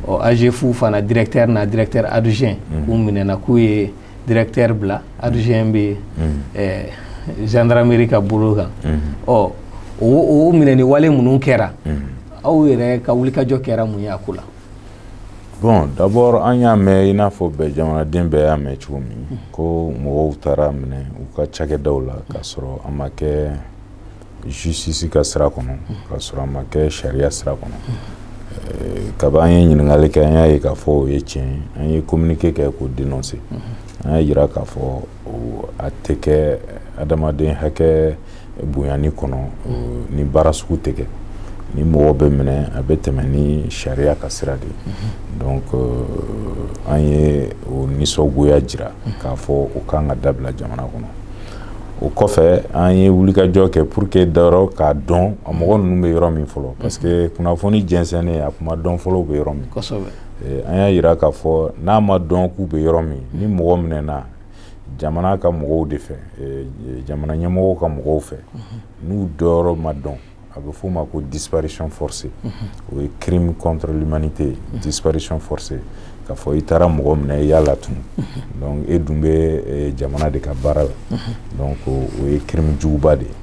[SPEAKER 1] ɔ AGEFAU fana directeur n'a directeur adjoint k'u minɛna k'u ye directeur bila adjoint bɛ yen ɛɛ gendarmerie ka bolo kan ɔ o o minɛni wale minnu kɛra aw yɛrɛ ka wulikajɔ kɛra mun ye a ko la. bon
[SPEAKER 2] d'abord an y'a mɛn i n'a fɔ bɛɛ jamanaden bɛɛ y'a mɛn cogo min ko mɔgɔw taara minɛ u ka cakɛdaw la k'a sɔrɔ a ma kɛ. justice ka sira kɔnɔ k'a sɔrɔ a ma kɛ sariya sira kɔnɔ eh, kaba an ye ɲininkali kɛ an y'a ye k'a fɔ o ye tiɲɛ ye an ye communiqué kɛ k'o dénoncer an y'a yira k'a fɔ a tɛ kɛ adamaden hakɛ bonyani kɔnɔ nin baara sugu tɛ kɛ ni mɔgɔ bɛ minɛ a bɛ tɛmɛ ni sariya ka sira de ye donc euh, an ye o nisɔngoya jira k'a fɔ o kan ka dabila jamana kɔnɔ o kɔfɛ an ye wulikajɔ kɛ pour que dayɔrɔ k'a dɔn a mɔgɔ ninnu bɛ yɔrɔ min fɔlɔ parce que kunnafoni jɛnsɛnnen a kun ma dɔn fɔlɔ u bɛ yɔrɔ min eh, an y'a yira k'a fɔ n'a ma dɔn k'u bɛ yɔrɔ min ni mɔgɔ minɛna jamana ka mɔgɔw de fɛ eh, jamana ɲɛmɔgɔw ka mɔgɔw fɛ n'u dɔyɔrɔ ma dɔn a bɛ f'o ma ko disparition forcée o ye crime contre l'humanité ye disparition forcée k'a fɔ i taara mɔgɔ minɛ i y'a latunu donc e dun bɛ jamana de ka baara la donc o ye crime juguba de ye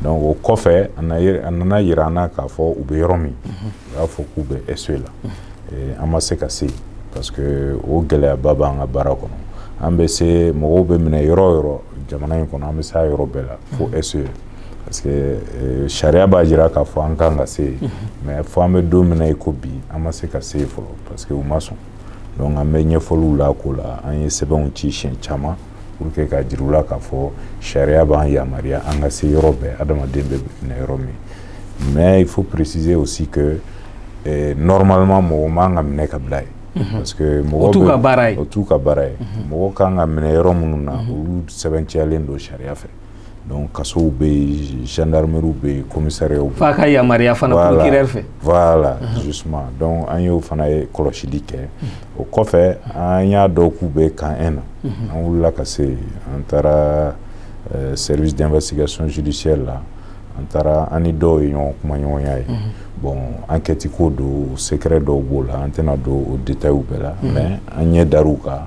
[SPEAKER 2] donc o kɔfɛ a nana yira an na k'a fɔ u bɛ yɔrɔ min u y'a fɔ k'u bɛ SE la an ma se ka se yen parce que o gɛlɛyaba b'an ka baara kɔnɔ an bɛ se mɔgɔw bɛ minɛ yɔrɔ o yɔrɔ jamana in kɔnɔ an bɛ s'a yɔrɔ bɛɛ la fo SE. parce que euh, sariya b'a jira k'a fɔ an kan ka se yen mhm. mais fo an bɛ don min na i ko bi an ma se ka se yen fɔlɔ parce que u ma sɔn donc an bɛ ɲɛfɔliw la ko la an ye sɛbɛnw ci siɲɛ caman pour que k'a jira u la k'a fɔ sariya b'an yamaruya an ka se yɔrɔ bɛɛ adamaden bɛ minɛ yɔrɔ min mais il faut préciser aussi que eh, normalement mɔgɔ man ka minɛ ka bila yen mhm. parce que mɔgɔ o t'u ka baara ye o t'u
[SPEAKER 1] ka baara ye mhm.
[SPEAKER 2] mɔgɔ kan ka minɛ yɔrɔ minnu na mhm. olu sɛbɛntiyalen don sariya fɛ donc kasow bɛ yen gendarmerie bɛ yen commissariat bɛ yen f'a ka yamaruya
[SPEAKER 1] fana procureur fɛ voilà justement
[SPEAKER 2] donc an y'o fana ye kɔlɔsili kɛ o kɔfɛ an y'a dɔn k'u bɛ Camp 1 na an wulila ka se yen an taara euh, service d'investigation judiciaire la an taara an ni dɔw ye ɲɔgɔn kumaɲɔgɔnya ye bon enquête ko don secret dɔw b'o la an tɛna don o détails bɛɛ la mais an ɲɛ dar'u kan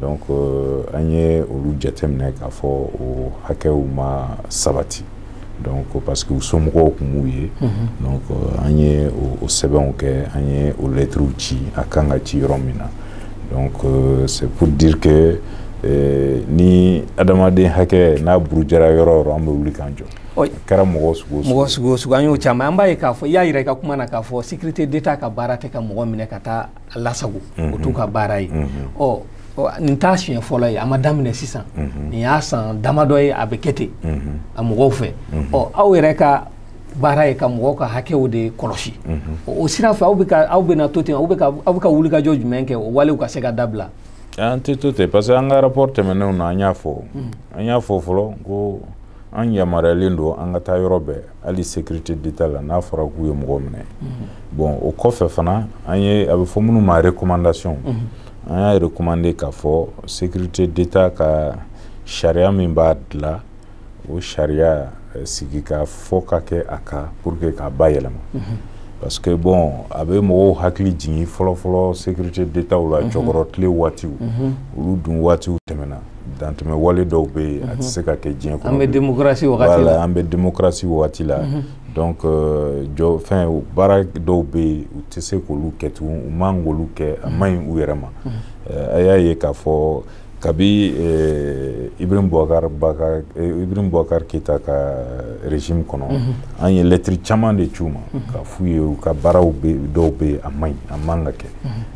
[SPEAKER 2] Donc an ye olu jateminɛ k'a fɔ o hakɛw ma sabati donc parce que u somɔgɔw tun m'u ye donc an ye o sɛbɛnw kɛ an ye o lɛtiriw ci a kan ka ci yɔrɔ min na donc c'est pour dire que ni adamaden hakɛ n'a burujara yɔrɔ o yɔrɔ an bɛ wuli k'an jɔ kɛra mɔgɔ sugu an y'o
[SPEAKER 1] caman an b'a ye k'a fɔ i y'a jira i ka kuma na k'a fɔ sécurité d'état ka baara tɛ ka mɔgɔ minɛ ka taa a lasago o t'u ka baara ye ɔ nin t'a siɲɛ fɔlɔ ye a ma daminɛ sisan nin y'a san damadɔ ye a bɛ kɛ ten a mɔgɔw fɛ ɔ aw yɛrɛ ka baara ye ka mɔgɔw ka hakɛw de kɔlɔsi o sira fɛ aw bɛ ka aw bɛna to ten aw bɛ ka aw bɛ ka wulikajɔ jumɛn kɛ o walew ka se ka dabila an tɛ to ten
[SPEAKER 2] parce que an ka rapport tɛmɛnenw na an y'a fɔ an y'a fɔ fɔlɔ ko an yamaruyalen don an ka taa yɔrɔ bɛɛ hali sécurité d'état la n'a fɔra k'u ye mɔgɔ minɛ bon o kɔfɛ fana an ye a bɛ fɔ minnu ma recommandation an y'a recommandé k'a fɔ sécurité d'état ka sariya min b'a dilan o sariya eh, sigikafɔ ka kɛ a kan pour que k'a bayɛlɛma parce que bon a bɛ mɔgɔw hakili jigin fɔlɔfɔlɔ sécurité d'état la Tiécoro tile waatiw olu dun waatiw tɛmɛna dantɛmɛ wale dɔw bɛ yen a tɛ mhm. se ka kɛ diɲɛ kɔnɔ an bɛ démocratie
[SPEAKER 1] wagati la an bɛ
[SPEAKER 2] démocratie wagati la mhm. donc euh, jɔ fɛn baara dɔw bɛ yen u tɛ se k'olu kɛ tugun u man k'olu kɛ a man ɲi u yɛrɛ ma mhm. euh, a y'a ye k'a fɔ kabi euh, Ibrahim Boubacar Bakar Ibrahim Boubacar Keita ka régime kɔnɔ an ye lɛtiri caman de ci u ma k'a f'u ye u ka baaraw dɔw bɛ yen a man ɲi a man ka kɛ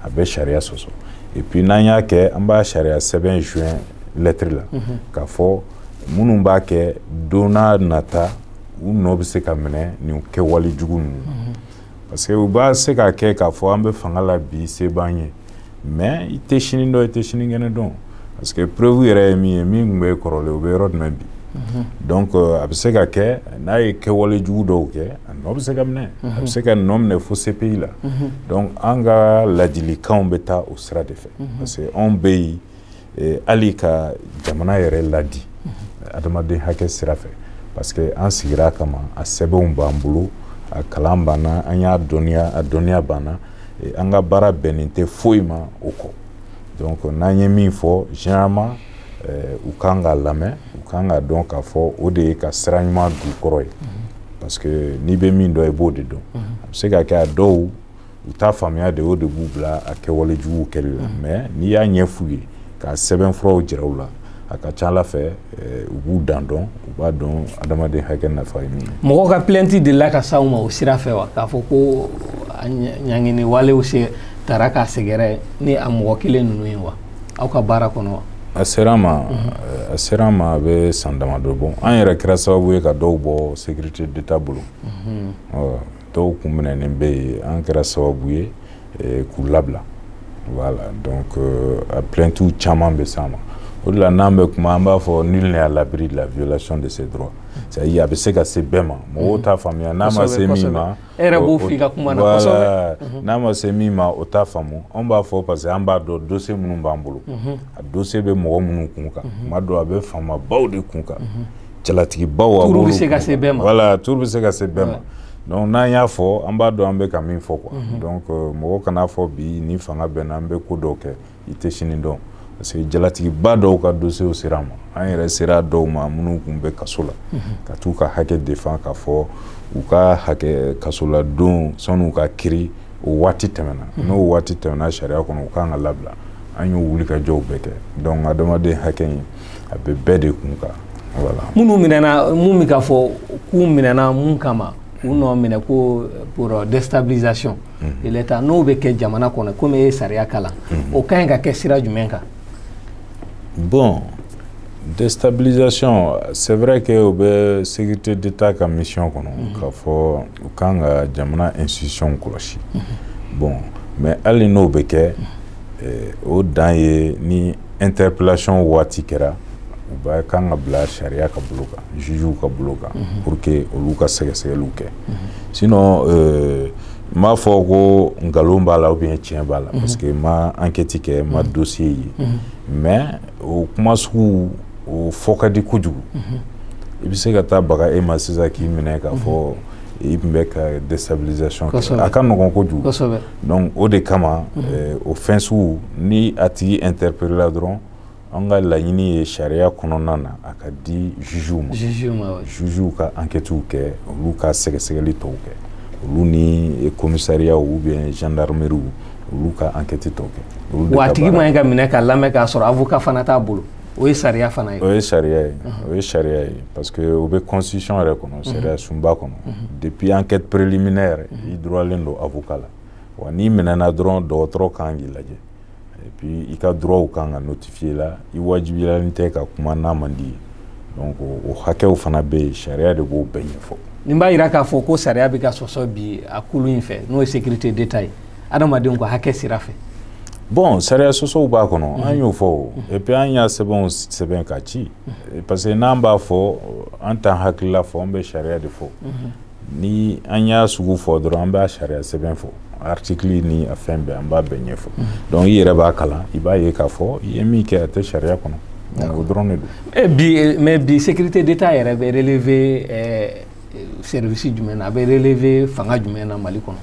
[SPEAKER 2] a bɛ sariya sɔsɔ et puis n'an y'a kɛ an b'a sariya sɛbɛn joint lettre la mhm. k'a fɔ minnu b'a kɛ don n'a nata u nɔ bɛ se ka minɛ nin kɛwale jugu ninnu mhm. parce que u b'a se k'a kɛ k'a fɔ an bɛ fanga la bi se b'an ye mais i tɛ sini dɔn i tɛ sinikɛnɛ dɔn parce que preuve yɛrɛ ye min ye min tun bɛ kɔrɔlen o bɛ yɔrɔ jumɛn bi mhm. donc euh, a bɛ se ka kɛ n'a ye kɛwale jugu dɔw kɛ A nɔ bɛ se ka minɛ a bɛ se ka nɔ minɛ fo CPI la donc an ka ladilikanw bɛ taa o sira de fɛ parce que anw bɛ yen hali ka jamana yɛrɛ ladi adamaden hakɛ sira fɛ parce que an sigira a kama a sɛbɛnw b'an bolo a kalan b'an na an y'a dɔn a dɔnniya b'an na an ka baara bɛnnen tɛ foyi ma o kɔ donc n'an ye min fɔ généralement u kan k'a lamɛn u kan k'a dɔn k'a fɔ o de ye ka sira ɲuman d'u kɔrɔ ye parce que n'i bɛ min dɔn i b'o de dɔn a bɛ se ka kɛ a dɔw u t'a faamuya de o de b'u bila a kɛwale juguw kɛli la mais n'i y'a ɲɛf'u ye ka sɛbɛnfuraw jira u la a ka ca a la fɛ u b'u dan dɔn u b'a dɔn adamaden hakɛ nafa ye min ye mɔgɔ ka plainte delila
[SPEAKER 1] ka s'aw ma o sira fɛ wa k'a fɔ ko ɲangini walew se taara k'a sɛgɛrɛ ni a mɔgɔ kelen ninnu ye wa aw ka baara kɔnɔ a sera an
[SPEAKER 2] ma a sera an ma a bɛ san damadɔ bɔ an yɛrɛ kɛra sababu ye ka dɔw bɔ sécurité d'état bolo dɔw kun minɛnen bɛ yen an kɛra sababu ye k'u labila voilà donc a plaintes caman bɛ s'an ma o de la n'an bɛ kuma an b'a fɔ nul n'est à l'abri de la violation de ses droits c'est-à-dire a bɛ se ka se bɛɛ ma mɔgɔw t'a faamuya n'a ma se min ma e yɛrɛ b'o
[SPEAKER 1] f'i ka kuma na kosɛbɛ mhm. n'a ma se min
[SPEAKER 2] ma o t'a faamu anw b'a fɔ parce que an b'a dɔn dossier minnu b'an bolo mhm. a dossier bɛ mɔgɔ minnu kun kan mhm. tuma dɔ a bɛ faamabaw de kun kan jalatigibaw a tour bɛ se ka
[SPEAKER 1] se bɛɛ ma voilà tour bɛ se ka
[SPEAKER 2] se bɛɛ ma donc n'an y'a fɔ an b'a dɔn an bɛ ka min fɔ quoi donc euh, mɔgɔ kan'a fɔ bi ni fanga bɛ n na n bɛ ko dɔw kɛ i tɛ sini dɔn parce que jalatigiba dɔw ka dossiers sera an ma an yɛrɛ sera dɔw ma minnu kun bɛ kaso la ka t'u ka hakɛ défend k'a fɔ u ka hakɛ kasoladon san'u ka kiiri o waati tɛmɛna n'o waati tɛmɛna sariya kɔnɔ u kan ka labila an y'o wulikajɔw bɛɛ kɛ donc adamaden hakɛ in a bɛ bɛɛ de kun kan voilà minnu minɛna
[SPEAKER 1] mun bɛ ka fɔ k'u minɛna mun kama k'u nɔ minɛ ko pour déstabilisation l'état n'o bɛ kɛ jamana kɔnɔ komi e ye sariya kalan o ka ɲi ka kɛ sira jumɛn
[SPEAKER 2] kan bon déstabilisation c'est vrai que o bɛ sécurité d'état ka mission kɔnɔ mhm. k'a fɔ u kan ka jamana institution kɔlɔsi mhm. bon mais hali n'o bɛ kɛ mhm. eh, o dan ye ni interpellation waati kɛra u b'a kan ka bila sariya ka bolo kan jugew ka bolo kan mhm. pour que olu ka sɛgɛsɛgɛliw kɛ mhm. sinon euh, n m'a fɔ ko nkalon b'a la ou bien tiɲɛ b'a la mhm. parce que n ma enquête kɛ n ma dossier ye mais o kuma sugu o fɔ ka di kojugu i bɛ se ka taa baga e ma sisan k'i minɛ k'a fɔ i tun bɛ ka déstabilisation kɛ a ka nɔgɔn kojugu donc o de kama eh, o fɛn sugu ni a tigi interpellé la dɔrɔn an ka laɲini ye sariya kɔnɔna na a ka di jugew ma jugew ka enquêtew kɛ olu ka sɛgɛsɛgɛli tɔw kɛ olu ni commissariat ou bien gendarmerie olu
[SPEAKER 1] ka enquête tɔw
[SPEAKER 2] kɛ
[SPEAKER 1] wa
[SPEAKER 2] a
[SPEAKER 1] tigi man ɲi ka minɛ
[SPEAKER 2] ka
[SPEAKER 1] lamɛn k'a sɔrɔ
[SPEAKER 2] avocat
[SPEAKER 1] fana t'a
[SPEAKER 2] bolo
[SPEAKER 1] o ye sariya fana ye o ye sariya
[SPEAKER 2] ye o ye sariya ye parce que o bɛ constitution yɛrɛ kɔnɔ sariya sunba kɔnɔ depuis enquête préliminaire i droitlen don avocat la wa n'i minɛna dɔrɔn dɔgɔtɔrɔ kan k'i lajɛ et puis i ka droitw kan ka notifier la i wajibiyalen tɛ ka kuma n'a man d'i ye donc o hakɛw fana bɛ yen sariya de b'o bɛɛ ɲɛfɔ nin b'a yira k'a fɔ
[SPEAKER 1] ko sariya bɛ ka sɔsɔ bi a kulu in fɛ n'o ye sécurité d'état ye adamadenw ka hakɛ sira fɛ bon
[SPEAKER 2] sariya sɔsɔw b'a kɔnɔ an mhm. y'o fɔ o mhm. et puis an y'a sɛbɛnw sɛbɛn ka ci mhm. parce que n'an b'a fɔ an t'an hakilila fɔ an bɛ sariya de fɔ ni an y'a sugu fɔ dɔrɔn an b'a sariya sɛbɛn fɔ article ni a fɛn bɛɛ an b'a bɛɛ ɲɛfɔ donc i yɛrɛ b'a kalan i b'a ye k'a fɔ i ye min kɛ a tɛ sariya kɔnɔ o dɔrɔn de don eh, bi eh, mais bi sécurité
[SPEAKER 1] d'état yɛrɛ bɛ relever eh, service jumɛn na a bɛ relever fanga jumɛn na Mali kɔnɔ.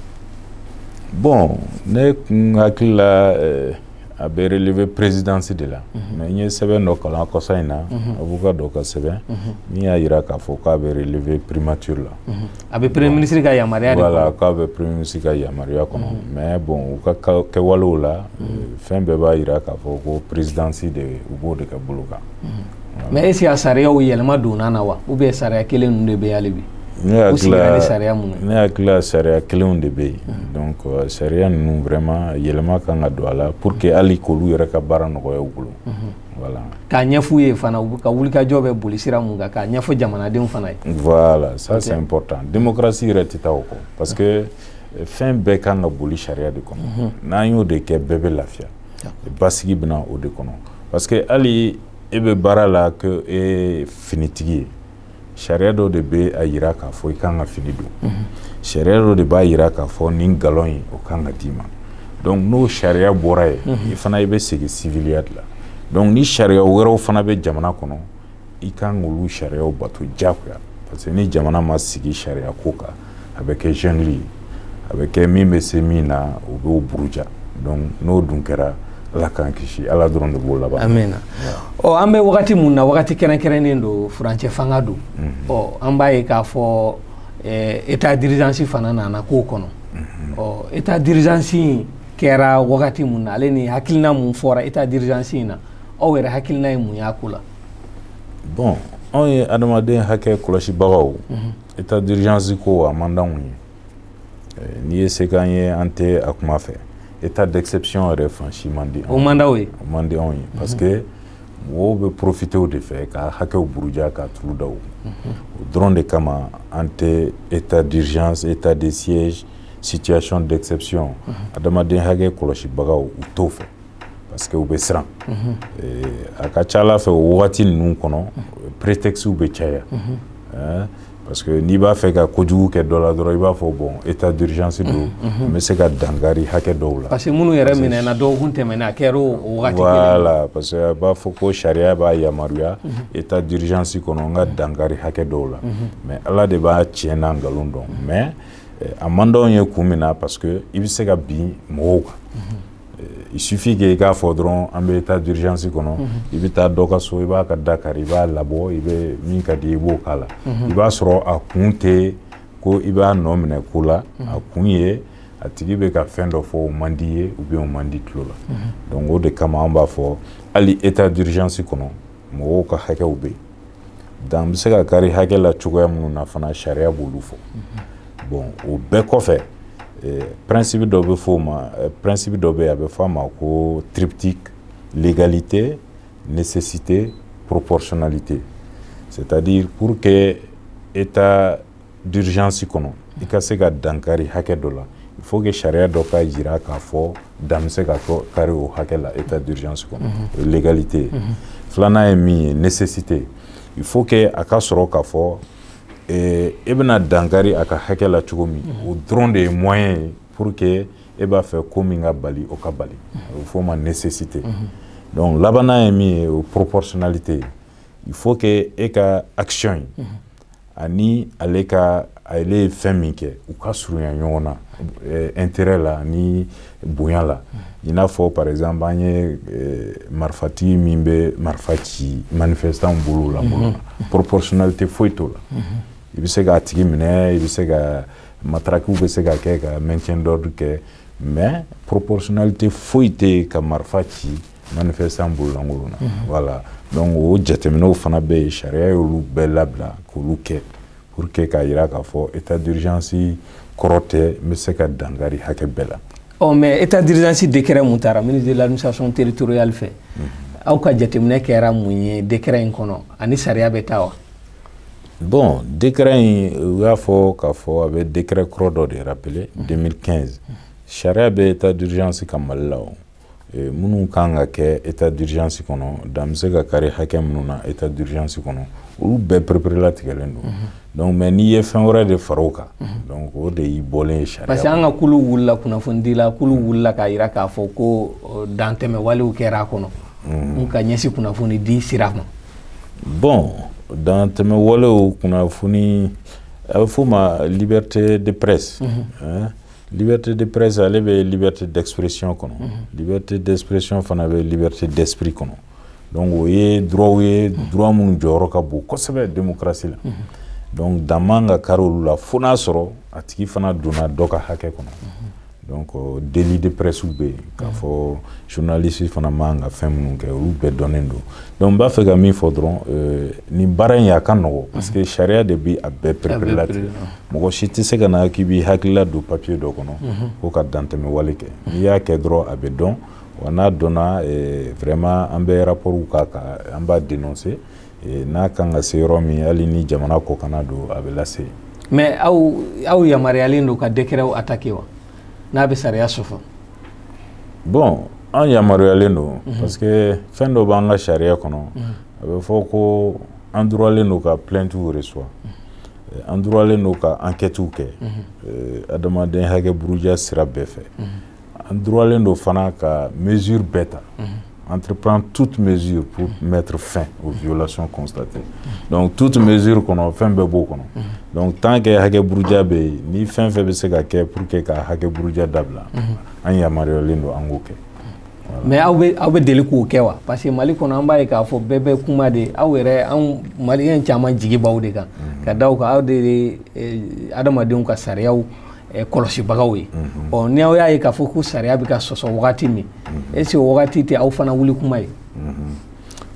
[SPEAKER 2] bon ne kun hakili la eh, a bɛ relever présidence de la. Mhm. mais n ye sɛbɛn dɔ kalan kɔsa in na. Mhm. avocat dɔ ka sɛbɛn. Mhm. min y'a yira k'a fɔ k'a bɛ relever primature la. a bɛ premier
[SPEAKER 1] ministre ka yamaruya de kɔnɔ. voilà k'a bɛ premier
[SPEAKER 2] ministre ka yamaruya kɔnɔ. mais bon u ka kɛwalew la. fɛn bɛɛ b'a yira k'a fɔ ko présidence de u b'o de ka bolo kan. mais est-ce
[SPEAKER 1] que a sariyaw yɛlɛma donna na wa ou bien sariya kelen ninnu de bɛ hali bi ne hakili
[SPEAKER 2] la sariya mun ne hakili la sariya kelenw de bɛ yen hmm. donc euh, sariya ninnu vraiment yɛlɛma kan ka don a la pour que hali k'olu yɛrɛ ka baara nɔgɔya u bolo hmm. voilà k'a ɲɛf'u
[SPEAKER 1] ye fana u ka wulikajɔ bɛ boli sira mun kan k'a ɲɛfɔ jamanadenw fana ye voilà ça
[SPEAKER 2] c'est important démocratie yɛrɛ tɛ taa o kɔ parce que euh, fɛn bɛɛ kan ka boli sariya de kɔnɔ hmm. n'an y'o de kɛ bɛɛ bɛ lafiya basigi bɛ na o de kɔnɔ parce que hali e bɛ baara la ko e ye finitigi ye sariya dɔ de bɛ a yira k'a fɔ i kan ka fini don mhm. sariya dɔ de b'a yira k'a fɔ nin galon in o kan ka d'i ma donc n'o sariya bɔra yen mhm. i fana i bɛ segin siviliya de la donc ni sariya wɛrɛw fana bɛ jamana kɔnɔ i kan k'olu sariyaw bato diyagoya parce que ni jamana ma sigi sariya ko kan a bɛ kɛ jungle ye a bɛ kɛ min bɛ se min na o b'o buruja n'o dun kɛra ala k'an kisi ala dɔrɔn de b'o laban
[SPEAKER 1] amina ɔ an bɛ wagati min na wagati kɛrɛnkɛrɛnnen don furancɛ fanga don ɔ an b'a ye k'a fɔ état d'urgence fana nana k'o kɔnɔ ɔ état d'urgence kɛra wagati min na ale ni hakilina min fɔra état d'urgence in na aw yɛrɛ hakilina ye mun y'a ko la bɔn
[SPEAKER 2] anw ye adamaden hakɛ kɔlɔsibagaw état d'urgence ko a man d'anw ye eh, n'i ye se k'an ye an tɛ a kuma fɛ état d'exception yɛrɛ fan si man di o man d'aw ye o man di anw ye parce que mɔgɔw bɛ profiter o de fɛ ka hakɛw buruja ka turu da o dɔrɔn de kama an tɛ état d'urgence état de siège situation d'exception adamaden hakɛ kɔlɔsibagaw u t'o fɛ parce que u bɛ siran a ka c'a la fɛ o wagati ninnu kɔnɔ prétextes bɛ caya parce que n'i b'a fɛ ka kojugu kɛ dɔ la dɔrɔn i b'a fɔ bon état d'urgence don n bɛ se ka dankari hakɛ dɔw la parce que minnu yɛrɛ minɛna dɔgɔkun tɛmɛna a kɛra o wagati voilà parce que a b'a fɔ ko sariya b'a yamaruya état d'urgence kɔnɔ n ka dankari hakɛ dɔw la mais ala de b'a tiɲɛ n'a nkalon dɔn mais a man d'anw ye kun min na parce que i bɛ se ka bin mɔgɔw kan il suffit que i k'a fɔ dɔrɔn an bɛ état d'urgence kɔnɔ mhm. i bɛ taa dɔ ka so i b'a ka da kari i b'a labɔ i bɛ min ka di i b'o k'a la mhm. i b'a sɔrɔ a kun tɛ ko i b'a nɔ minɛ ko la mhm. a kun ye a tigi bɛ ka fɛn dɔ fɔ o man d'i ye ou bien o man di tulo la donc o de kama an b'a fɔ hali état d'urgence kɔnɔ mɔgɔw ka hakɛw bɛ yen dan bɛ se ka kari hakɛ la cogoya minnu na fana sariya b'olu fɔ bon o bɛɛ kɔfɛ eh, principe dɔ bɛ fɔ o ma eh, principe dɔ bɛ yen a bɛ fɔ a ma ko triptyque légalité nécessité proportionnalité c'est-à-dire pour que état d'urgence kɔnɔ i ka se ka dankari hakɛ dɔ la il faut que sariya dɔ ka jira k'a fɔ dan bɛ se ka kari o hakɛ la état d'urgence kɔnɔ o ye légalité ye filanan ye min ye nécessité il faut que a ka sɔrɔ k'a fɔ e bɛna dankari a ka hakɛ la cogo min o dɔrɔn de ye moyen ye pour que e b'a fɛ ko min ka bali o ka bali o bɛ f'o ma nécessité donc labannan ye min ye o proportionnalité ye il faut que e ka action ye ani ale ka ale ye fɛn min kɛ u ka surunya ɲɔgɔn na eh, intérêt la ani bonya la i n'a fɔ par exemple an ye eh, marifatigi min bɛ marifa ci manifestantw bolo la proportionnalité foyi t'o la i bɛ se k'a tigi minɛ i bɛ se ka matarakiw bɛ se ka kɛ ka maintien d'ordre kɛ mais proportionnalité foyi tɛ ka marifa ci manifestant bololankolon na mhm. voilà donc o jateminɛw fana bɛ yen sariya y'olu bɛɛ labila k'olu kɛ pour que k'a yira k'a fɔ état d'urgence kɔrɔ tɛ n bɛ se ka dan kari hakɛ bɛɛ la ɔ mais état
[SPEAKER 1] d'urgence décret mun tara ministre de l'administration territoriale fɛ mhm. aw ka jateminɛ kɛra mun ye décret in kɔnɔ a ni sariya bɛ taa wa
[SPEAKER 2] bon décret in u y'a fɔ k'a fɔ a bɛ décret kɔrɔ dɔ de rappeler 2015 mhm. sariya bɛ état d'urgence kan mali la o eh, minnu kan ka kɛ état d'urgence kɔnɔ dan bɛ se ka kari hakɛ minnu na état d'urgence kɔnɔ olu bɛɛ pereperelatigɛlen don mhm. donc mais n'i ye fɛn wɛrɛ de fara o kan mhm. donc o de y'i bɔlen ye sariya parce que an ka kulu wulila
[SPEAKER 1] kunnafonidila kulu mhm. wulila k'a jira k'a fɔ ko euh, dantɛmɛ walew kɛra a kɔnɔ mun ka ɲɛsin kunnafoni di sira ma bon
[SPEAKER 2] dantɛmɛ walew kunnafoni a bɛ f'o ma liberté de presse liberté de presse ale bɛ liberté d'expression kɔnɔ liberté d'expression fana bɛ liberté d'esprit kɔnɔ donc o ye droitw ye droit minnu jɔyɔrɔ ka bon kosɛbɛ démocratie la donc dan man ka kari olu la fo n'a sɔrɔ a tigi fana donna dɔ ka hakɛ kɔnɔ donc euh, délit de presse bɛ yen k'a fɔ journaliste fana man ka fɛn minnu kɛ olu bɛɛ dɔnnen don donc n b'a fɛ ka min fɔ dɔrɔn euh, nin baara in a ka nɔgɔ parce que sariya de bɛ a bɛɛ pereperelatigɛ mɔgɔ si tɛ se ka na k'i b'i hakilila don papiye dɔ kɔnɔ mhm. ko ka dantɛmɛwale kɛ n'i y'a kɛ dɔrɔn a bɛ dɔn wa n'a dɔnna eh, vraiment an bɛ rapportw k'a kan an b'a dénoncer eh, n'a kan ka se yɔrɔ min hali ni jamana kɔkanna don a bɛ lase mais
[SPEAKER 1] aw aw yamaruyalen don ka décretw attaquer wa n'a bɛ sariya
[SPEAKER 2] sɔsɔ bon an yamaruyalen don mhm. parce que fɛn dɔ b'an ka sariya kɔnɔ mhm. a bɛ fɔ ko an droitlen don ka plaintew reçoit an droitlen don ka enquêtew kɛ adamaden hakɛ buruja sira bɛɛ fɛ an droitlen don fana ka mesure bɛɛ ta entreprendre toute mesure pour mettre fin aux violations constatées donc toute mesure kɔnɔ fɛn bɛɛ b'o kɔnɔ donc tant que hakɛ buruja bɛ yen ni fɛn fɛn bɛ se ka kɛ pour que ka hakɛ buruja dabila an yamaruyalen don an k'o kɛ mais aw
[SPEAKER 1] bɛ aw bɛ deli k'o kɛ wa parce que mali kɔnɔ an b'a ye k'a fɔ bɛɛ bɛ kuma de aw yɛrɛ anw maliyɛn caman jigi b'aw de kan mhm. ka d'a kan aw de ye eh, adamadenw ka sariyaw eh, kɔlɔsibagaw ye mhm. ɔ ni aw y'a ye k'a fɔ ko sariya bɛ ka sɔsɔ wagati min mhm. est ce que o wagati tɛ aw fana wuli kuma
[SPEAKER 2] ye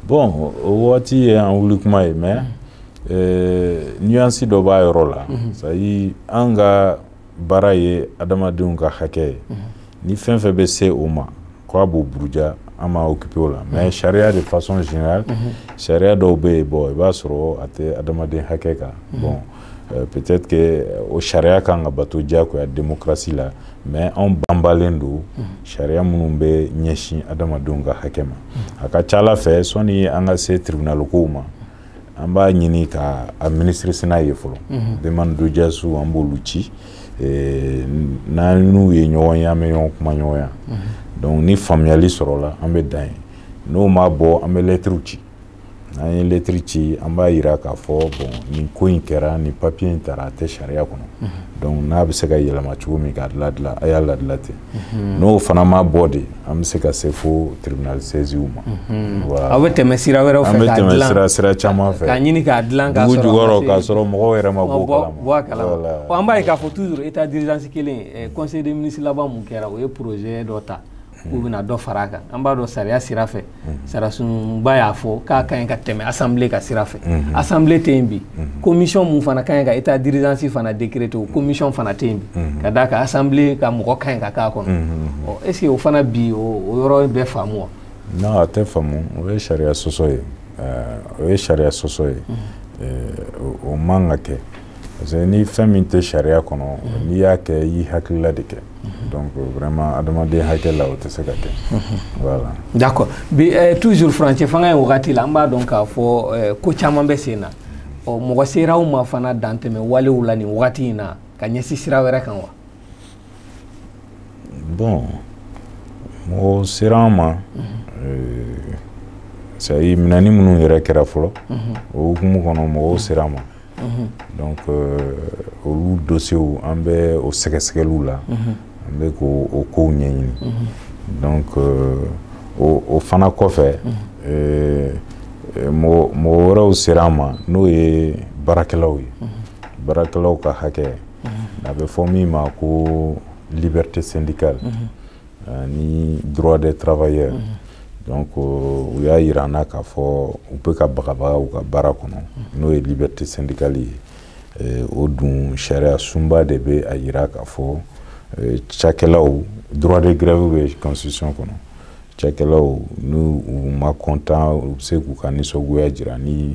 [SPEAKER 2] bon o wagati ye an wuli kuma ye mais eh, nuance dɔ b'a yɔrɔ la c'est à dire an ka baara ye adamadenw ka hakɛ ye ni fɛn fɛn bɛ se o ma k'a b'o buruja an ma occupé o la mais sariya de façon générale sariya dɔw bɛ yen bon i b'a sɔrɔ a tɛ adamaden hakɛ kan bon euh, peut-être que o sariya kan ka bato diyagoya démocratie la mais anw banbalen don sariya minnu bɛ ɲɛsin adamadenw ka hakɛ ma a ka ca a la fɛ sɔni an ka se tribunal kow ma an b'a ɲini ka administration ye fɔlɔ mhm. demande d'audience an b'olu ci eh, n'an n'u ye ɲɔgɔn ye an bɛ ɲɔgɔn kumaɲɔgɔnya mhm. donc ni faamuyali sɔrɔla an bɛ dan yen n'o ma bɔ an bɛ lɛtiriw ci n'an ye lɛtiri ci an b'a yira k'a fɔ bon nin ko in kɛra nin papiye in tara a tɛ sariya kɔnɔ mhm. donc n'a bɛ se ka yɛlɛma cogo min k'a ladila a y'a ladila ten mhm. n'o fana ma bɔ de an bɛ se ka se fo tribunal saisiw ma mhm. aw bɛ tɛmɛ sira
[SPEAKER 1] wɛrɛw fɛ k'a dilan an bɛ tɛmɛ sira sira
[SPEAKER 2] caman fɛ k'a ɲini k'a dilan k'a sɔrɔ
[SPEAKER 1] dugu jukɔrɔ k'a sɔrɔ
[SPEAKER 2] mɔgɔw yɛrɛ ma bɔ kalama bɔ a
[SPEAKER 1] kalama wa an b'a ye k'a fɔ toujours état d'urgence kelen eh, conseil des ministres laban mun kɛra o ye projet dɔ ta k'u bɛna dɔ fara a kan an b'a dɔn sariya sira fɛ sariyasunba y'a fɔ k'a ka ɲi ka tɛmɛ assemblée ka sira fɛ assemblée tɛ yen bi commission mun fana ka ɲi ka état d'urgence fana décréter o commission fana tɛ yen bi ka d'a kan assemblée ka mɔgɔ ka ɲi ka k'a kɔnɔ est-ce que o fana bi o yɔrɔ bɛ faamu wa non a tɛ
[SPEAKER 2] faamu o ye sariya sɔsɔ ye o ye sariya sɔsɔ ye o man ka kɛ parce que ni fɛn min tɛ sariya kɔnɔ n'i y'a kɛ i y'i hakilila de kɛ donc vraiment adamaden hakɛ la o tɛ se ka kɛ voilà d'accord
[SPEAKER 1] bi eh, toujours furancɛ fanga in wagati la an b'a dɔn k'a fɔ eh, ko caman bɛ sen na ɔ mɔgɔ sera aw ma fana dantɛmɛ walew la nin wagati in na ka ɲɛsin sira wɛrɛ kan
[SPEAKER 2] wa bon mɔgɔ sera an ma c'est-à-dire minɛni minnu yɛrɛ kɛra fɔlɔ o hukumu kɔnɔ mɔgɔw sera an ma donc euh, olu dosiyew an bɛ o sɛgɛsɛgɛliw la an bɛ k'o o kow ɲɛɲini donc euh, o o fana kɔfɛ euh, mɔgɔ mɔgɔ wɛrɛw sera an ma n'o ye baarakɛlaw ye baarakɛlaw ka hakɛ a bɛ fɔ min ma ko liberté syndicale ani droit des travailleurs mm -hmm. donc euh, u y'a yira an na k'a fɔ u bɛ ka bagabaga u ka baara kɔnɔ mhm. n'o ye liberté syndicale ye eh, o dun sariyasunba de bɛ a yira k'a fɔ eh, cakɛlaw droit de grève bɛ constitution kɔnɔ cakɛlaw n'u ma content u bɛ se k'u ka nisɔngoya jira ni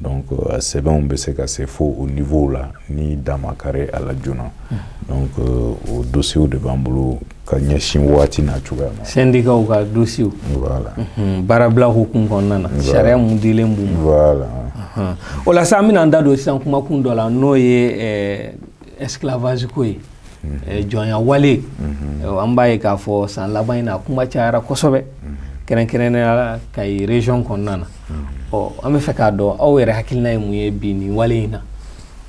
[SPEAKER 2] donc a sɛbɛnw bɛ se ka se fo o niveau la ni dan ma kari a la joona hmm. donc euh, o dosiyew de b'an bolo ka ɲɛsin waati n'a cogoya ma sɛndikaw ka
[SPEAKER 1] dosiyew voilà
[SPEAKER 2] hmm,
[SPEAKER 1] baarabila hukumu kɔnɔna na sariya mun dilen b'u ma
[SPEAKER 2] voilà o la
[SPEAKER 1] sa an bɛna an da don sisan kumakun dɔ la n'o ye esclavage ko ye eh, jɔnya wale an b'a ye k'a fɔ san laban in na kuma cayara kosɛbɛ kɛrɛnkɛrɛnnenya la kayi région kɔnɔna na ɔ an b'a fɛ k'a dɔn aw yɛrɛ hakilina ye mun ye bi nin wale in na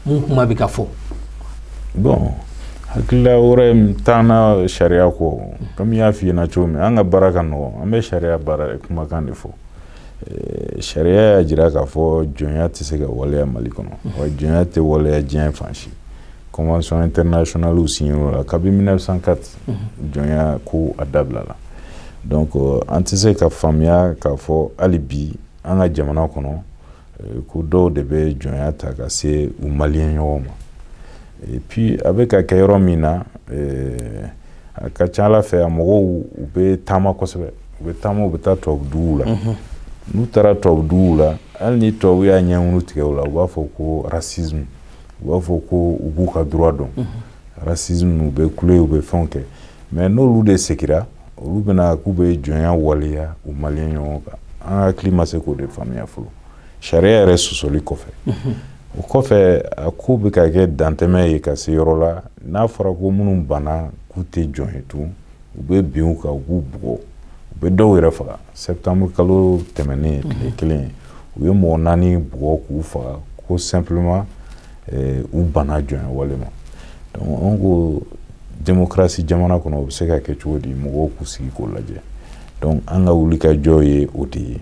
[SPEAKER 1] mun kuma bɛ ka fɔ
[SPEAKER 2] bon hakilila wɛrɛ t'an na sariya kɔ komi n y'a f'i ɲɛna cogo min an ka baara ka nɔgɔn an bɛ sariya baara kumakan de fɔ Eh, sariya y'a jira k'a fɔ jɔnya tɛ se ka waleya mali kɔnɔ wa jɔnya tɛ waleya diɲɛ fan si convention internationaliw signé la kabi 1904 jɔnya ko a dabila la donc euh, an tɛ se ka faamuya k'a fɔ hali bi an ka jamana kɔnɔ euh, ko dɔw de bɛ jɔnya ta ka se u maliyɛn ɲɔgɔn ma et puis a bɛ ka kɛ yɔrɔ min na euh, a ka ca ala fɛ a mɔgɔw u bɛ taama kosɛbɛ u bɛ taama u bɛ taa tubabu duguw la mhm. n'u taara tubabu duguw la hali ni tubabu y'a ɲɛŋunu tigɛ u la u b'a fɔ ko racisme u b'a fɔ ko u b'u ka droit dɔn mhm. racisme u bɛ kule u bɛ fɛnw kɛ mais n'olu de segira olu bɛna k'u bɛ jɔnya waleya u maliyɛn ɲɔgɔn kan an hakili ma se k'o de faamuya fɔlɔ sariya yɛrɛ sɔsɔli kɔfɛ mhm. o kɔfɛ a ko bɛ ka kɛ dantɛmɛ ye ka se yɔrɔ la n'a fɔra ko minnu banna k'u tɛ jɔn ye tun u bɛ bin u kan u b'u bugɔ u bɛ dɔw yɛrɛ faga septembre kalo tɛmɛnen mhm. tile kelen u ye mɔgɔ naani bugɔ k'u faga ko simplement eh, u banna jɔnya wale ma donc an ko démocratie jamana kɔnɔ o bɛ se ka kɛ cogo di mɔgɔw k'u sigi k'o lajɛ donc an ka wuli ka jɔ ye o de ye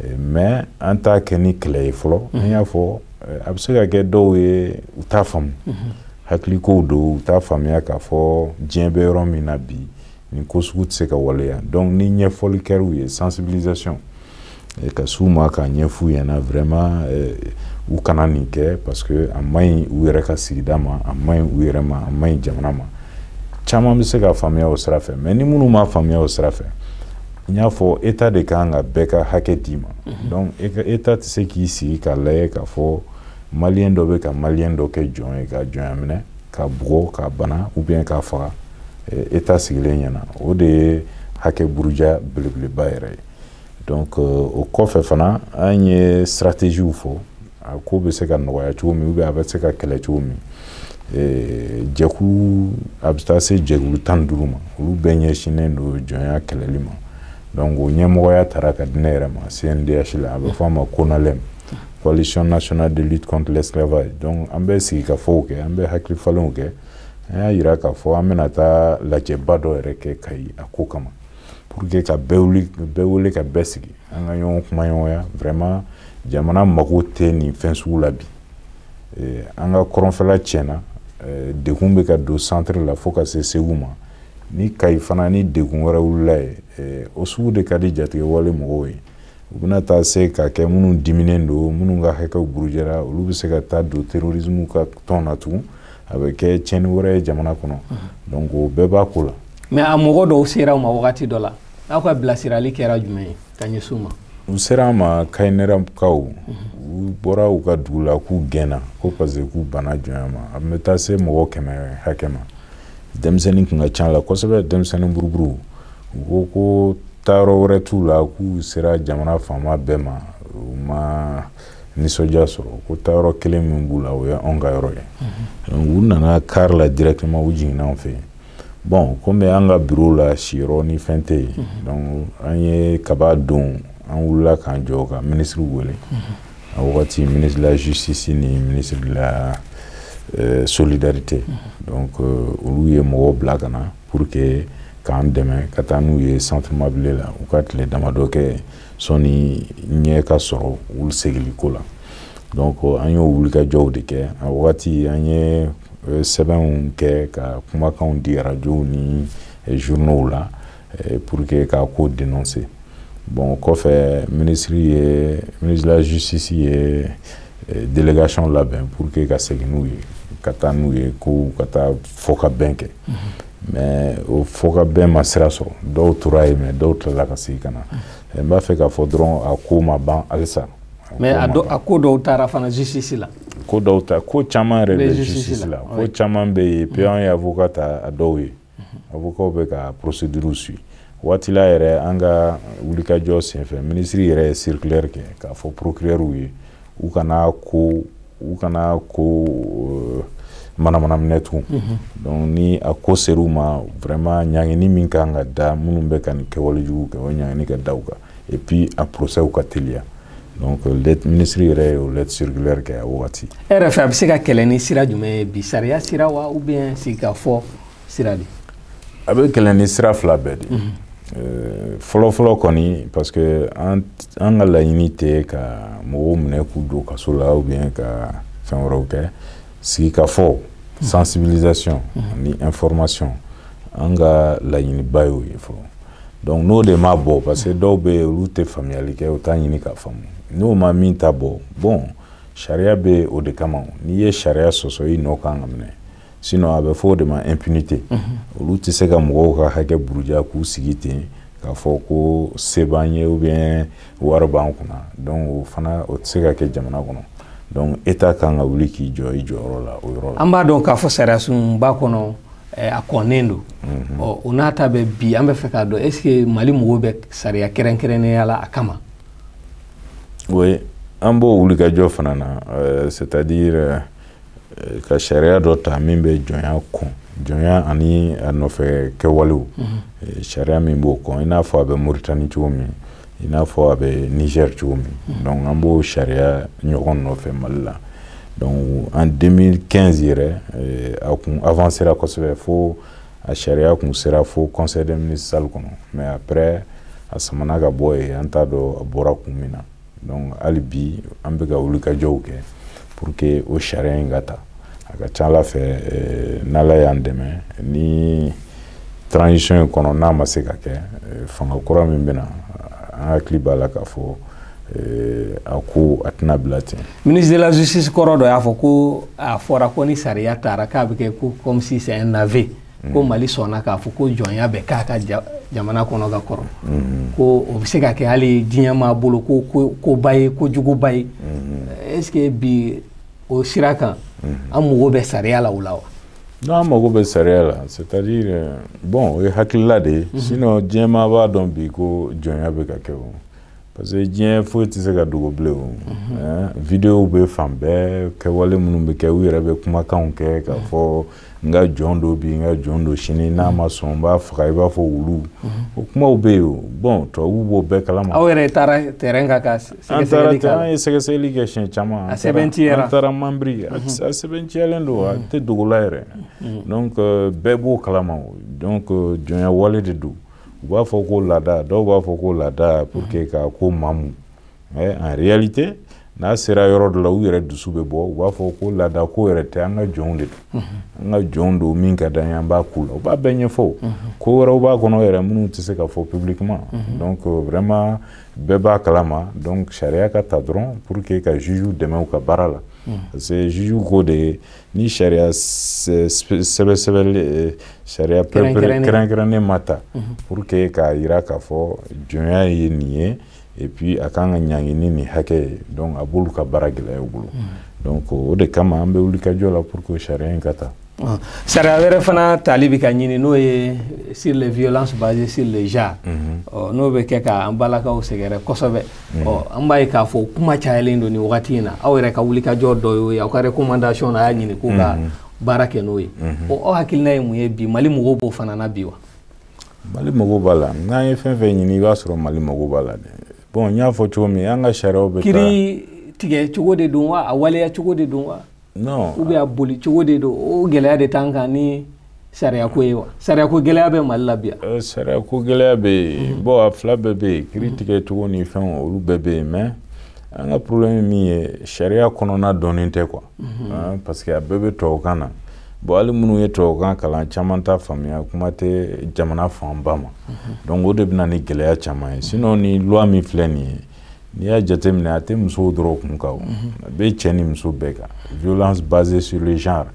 [SPEAKER 2] eh, mais an t'a kɛ ni kɛlɛ ye fɔlɔ mhm. an y'a fɔ eh, a bɛ se ka kɛ dɔw ye u t'a faamu mhm. hakilikow don u t'a faamuya k'a fɔ diɲɛ bɛ yɔrɔ min na bi nin ko sugu tɛ se ka waleya donc ni ɲɛfɔli kɛr'u ye sensibilisation eh, ka s'u ma k'a ɲɛf'u ɲɛna vraiment eh, u kana nin kɛ parce que a man ɲi u yɛrɛ ka sigida ma a man ɲi u yɛrɛ ma a man ɲi jamana ma caman bɛ se ka faamuya o sira fɛ mais ni minnu m'a faamuya o sira fɛ n y'a fɔ état de kan ka bɛɛ ka hakɛ d'i ma mhm. donc état tɛ se k'i sigi k'a lajɛ k'a fɔ maliyɛn dɔ bɛ ka maliyɛn dɔ kɛ jɔn ye k'a jɔnya minɛ k'a bugɔ k'a bana ou bien k'a faga état eh, sigilen ɲɛna o de ye hakɛ buruja belebeleba yɛrɛ ye donc euh, o kɔfɛ fana an ye stratégies fɔ a ko bɛ se ka nɔgɔya cogo min ou bien a bɛ se ka kɛlɛ cogo min eh, jɛkulu a bɛ taa se jɛkulu tan ni duuru ma olu bɛɛ ɲɛsinnen don jɔnya kɛlɛli ma donc o ɲɛmɔgɔya tara ka di ne yɛrɛ ma cndh la a bɛ fɔ a ma conalem coalition nationale de lutte contre l'esclavage donc an bɛ sigikafɔw kɛ an bɛ hakili falenw kɛ an y'a jira k'a fɔ an bɛna taa lajɛba dɔ yɛrɛ kɛ kayi a ko kama pour que ka bɛɛ wuli bɛɛ wele ka bɛɛ sigi an ka ɲɔgɔn kumaɲɔgɔnya vraiment jamana mago tɛ nin fɛn sugu la bi eh, an ka kɔrɔnfɛla tiɲɛna eh, degun bɛ ka don centre la fo ka se segu ma ni kayi fana ni degun wɛrɛ wulila yen eh, o sugu de ka di jatigɛwale mɔgɔw ye u bɛna taa se ka kɛ minnu diminen don minnu ka hakɛw burujɛra olu bɛ se ka taa don terrorisme ka tɔn na tugun a bɛ kɛ tiɲɛni wɛrɛ ye jamana kɔnɔ donc o bɛɛ b'a ko la mais a mɔgɔ
[SPEAKER 1] dɔw sera u ma wagati dɔ la aw ka bilasirali kɛra jumɛn ye ka ɲɛsin u ma u sera an ma
[SPEAKER 2] kayinɛrɛkaw u bɔra u ka dugu la k'u gɛnna ko parce que k'u banna jɔnya ma a bɛ taa se mɔgɔ kɛmɛ hakɛ ma denmisɛnnin tun ka ca la kosɛbɛ denmisɛnnin buruburu u ko ko taayɔrɔ wɛrɛ t'u la k'u sera jamana faama bɛɛ ma u ma nisɔndiya sɔrɔ ko taayɔrɔ kelen min b'u la o ye anw ka yɔrɔ ye mhm. u nana kari la directement u jiginna anw fɛ yen bon komi an ka biro la siyɔrɔ ni fɛn tɛ yen mhm. donc an ye kaba don an wulila k'an jɔ ka minisiri wele mhm. a wagati ministre de la justice ni ministre de la euh, solidarité donc euh, olu ye mɔgɔw bila ka na pour que k'an dɛmɛ ka taa n'u ye centre mabile la u ka tile damadɔ kɛ sɔni ɲɛ ka sɔrɔ olu segiliko la donc an y'o wulikajɔw de kɛ a wagati an ye euh, sɛbɛnw kɛ ka kumakanw di arajow ni euh, journaux la euh, pour que k'a ko dénoncer bon o kɔfɛ ministre ye ministre de la justice ye délégation labɛn pour que ka segin n'u ye ka taa n'u ye ko u ka taa fɔkabɛn kɛ mhm. mais o fɔkabɛn ma sira sɔrɔ dɔw tora yen mais dɔw tilala ka segin ka na eh, n b'a fɛ k'a fɔ dɔrɔn a ko ma ban halisa mais a, a
[SPEAKER 1] ko dɔw taara fana justice la ko dɔw ta ko
[SPEAKER 2] caman yɛrɛ bɛ justice la ko caman bɛ yen puis an ye avocat ta a dɔw ye avocat bɛ ka procédure suivre a waati la yɛrɛ an ka wulikajɔ senfɛ minisiri yɛrɛ ye circulaire kɛ k'a fɔ procureurw ye u kana ko u kana ko euh, manamana minɛ tugun mhm. donc ni a ko ser'u ma vraiment ɲangini min kan ka da minnu bɛ ka nin kɛwale jugu kɛ o ɲangini ka da u kan et puis a procès ka teliya donc euh, let ministre yɛrɛ ye o lettre circulaire kɛ a wagati e yɛrɛ fɛ a bɛ se ka
[SPEAKER 1] kɛlɛ ni sira jumɛn ye bi sariya sira wa ou bien sigikafɔ sira de a bɛ kɛlɛ
[SPEAKER 2] ni sira fila bɛɛ de euh, fɔlɔfɔlɔ kɔni parce que an ka laɲini tɛ ka mɔgɔw minɛ k'u don kaso la ou bien ka fɛn wɛrɛw kɛ sigikafɔ sensibilisation ni information an ka laɲiniba y'o ye fɔlɔ donc n'o de ma bɔ parce que dɔw bɛ yen olu tɛ faamuyali kɛ u t'a ɲini k'a faamu n'o ma min ta bɔ bon sariya bɛ o de kama n'i ye sariya sɔsɔ i nɔ kan ka minɛ sinon a bɛ fɔ o de ma impunité olu tɛ se ka mɔgɔw ka hakɛ buruja k'u sigi ten k'a fɔ ko se b'an ye ou bien wari b'an kunna donc o fana o tɛ se ka kɛ jamana kɔnɔ donc état kan ka wuli k'i jɔ i jɔyɔrɔ la o yɔrɔ la an b'a dɔn k'a
[SPEAKER 1] fɔ sariyasunba kɔnɔ eh, a kɔnnen don mhm. ɔ o n'a ta bɛɛ bi an b'a fɛ k'a dɔn est ce que mali mago bɛ sariya kɛrɛnkɛrɛnnenya la a kama
[SPEAKER 2] oui an b'o wulikajɔ fana na eh, c'est à dire eh, eh, ka sariya dɔ ta min bɛ jɔnya kɔn jɔnya ani a nɔfɛ kɛwalew mhm. eh, sariya min b'o kɔn i n'a fɔ a bɛ mauritanie cogo min i n'a fɔ a bɛ niger cogo min mhm. donc an b'o sariya ɲɔgɔn nɔfɛ mali la donc en 2015 yɛrɛ eh, a kun avancera kosɛbɛ fo a sariya kun sera fo conseil des ministres salle kɔnɔ mais après a samana ka bɔ yen an t'a dɔn a bɔra kun min na donc hali bi an bɛ ka wulikajɔw kɛ pour que o sariya in ka ta a ka ca ala fɛ eh, n'ala y'an dɛmɛ ni transition in kɔnɔ n'a ma se ka kɛ eh, fanga kura min bɛ na an hakili b'a la k'a fɔ eh, a ko a tɛna bila ten ministre de la justice
[SPEAKER 1] kɔrɔ dɔ y'a fɔ ko a fɔra ko ni sariya tara k'a bɛ kɛ ko comme si c'est un aveu ko mm. mali sɔnna k'a fɔ ko jɔnya bɛ k'a ka jamana kɔnɔ ka kɔrɔ mm-hmm. ko o bɛ se ka kɛ hali diɲɛmaa bolo koba ye ko juguba ye mm-hmm. est ce que bi o sira kan mm-hmm. an mago bɛ sariya la o la wa non an mago
[SPEAKER 2] bɛ sariya la c'est à dire euh, bon o ye hakilila de ye sinon diɲɛmaa b'a dɔn bi ko jɔnya bɛ ka kɛ o parce que diɲɛ foyi tɛ se ka dogo bilen o mhm. videow bɛ fan bɛɛ kɛwale minnu bɛ kɛ u yɛrɛ bɛ kumakanw kɛ k'a mhm. fɔ n ka jɔn don bi n ka jɔn don sini n'a mhm. ma sɔn n b'a faga i b'a fɔ wulu o kumaw bɛ yen o bon tubabuw b'o bɛɛ kalama. aw yɛrɛ taara
[SPEAKER 1] terrain kan ka sɛgɛsɛgɛli kɛ an ye sɛgɛsɛgɛli kɛ
[SPEAKER 2] siɲɛ caman a sɛbɛntiyara an
[SPEAKER 1] taara
[SPEAKER 2] manbiri a sɛbɛntiyalen don a tɛ dogo la yɛrɛ donc euh, bɛɛ b'o kalama donc euh, jɔnya wale de don. u b'a fɔ ko laada dɔw b'a fɔ ko laada pour que mhm. ka ko mamu mais en réalité n'a sera yɔrɔ dɔ la u yɛrɛ dusu bɛ bɔ u b'a fɔ ko laada ko yɛrɛ tɛ an ka jɔnw de don mhm. an ka jɔnw don min ka d'an ye an b'a k'u la u b'a bɛɛ ɲɛfɔ mhm. ko wɛrɛw b'a kɔnɔ yɛrɛ minnu tɛ se ka fɔ publiquement donc euh, vraiment bɛɛ b'a kalama donc sariya ka ta dɔrɔn pour que ka jugew dɛmɛ u ka baara la parce que jugew ko de ye ni sariya sɛbɛsɛbɛli eh, sariya kɛrɛnkɛrɛnnen ma ta mhm. pour que k'a jira k'a fɔ jɔnya ye nin ye et puis a kan ka ɲangi ni nin hakɛ ye donc a b'olu ka baara gɛlɛya u bolo mhm. donc o de kama an bɛ wulikajɔ la pour que sariya in ka ta ah, sariya
[SPEAKER 1] wɛrɛ fana tali bɛ ka ɲini n'o ye sur les violences basées sur le genre mhm. n'o bɛ kɛ ka an balakaw sɛgɛrɛ kosɛbɛ Mm. ɔ an b'a ye k'a fɔ kuma cayalen don nin wagati in na aw yɛrɛ ka wulikajɔ dɔ y'o ye aw ka recommandation na a y'a ɲini k'u ka mm-hmm. baara kɛ n'o ye mm-hmm. ɔ aw hakilina ye mun ye bi mali mago b'o fana na bi wa
[SPEAKER 2] mali mago b'a la n'an ye fɛn fɛn ɲini i b'a sɔrɔ mali mago b'a la dɛ bon n y'a
[SPEAKER 1] fɔ
[SPEAKER 2] cogo min an ka sariyaw bɛ kiri tigɛ
[SPEAKER 1] cogo de don wa a waleya cogo de don wa ou bien
[SPEAKER 2] a boli
[SPEAKER 1] cogo de don o gɛlɛya de t'an kan ni sariyako ye wa sariyako gɛlɛya bɛ mali la bi yan eh, sariyako gɛlɛya bɛ
[SPEAKER 2] yen bon a fila bɛɛ bɛ yen kiri tigɛ cogo ni fɛnw olu bɛɛ bɛ yen mais an ka problème min ye sariya kɔnɔna dɔnnen tɛ quoi mhm. ah, parce que a bɛɛ bɛ tubabukan na bon hali minnu ye tubabukan kalan caman t'a faamuya kuma tɛ jamana fanba ma mhm. donc o de bɛ na ni gɛlɛya caman ye sinon ni loi min filɛ nin ye N'i y'a jate minɛ a tɛ musow dɔrɔn kun kan a bɛ cɛ ni muso bɛɛ kan violence basée sur le genre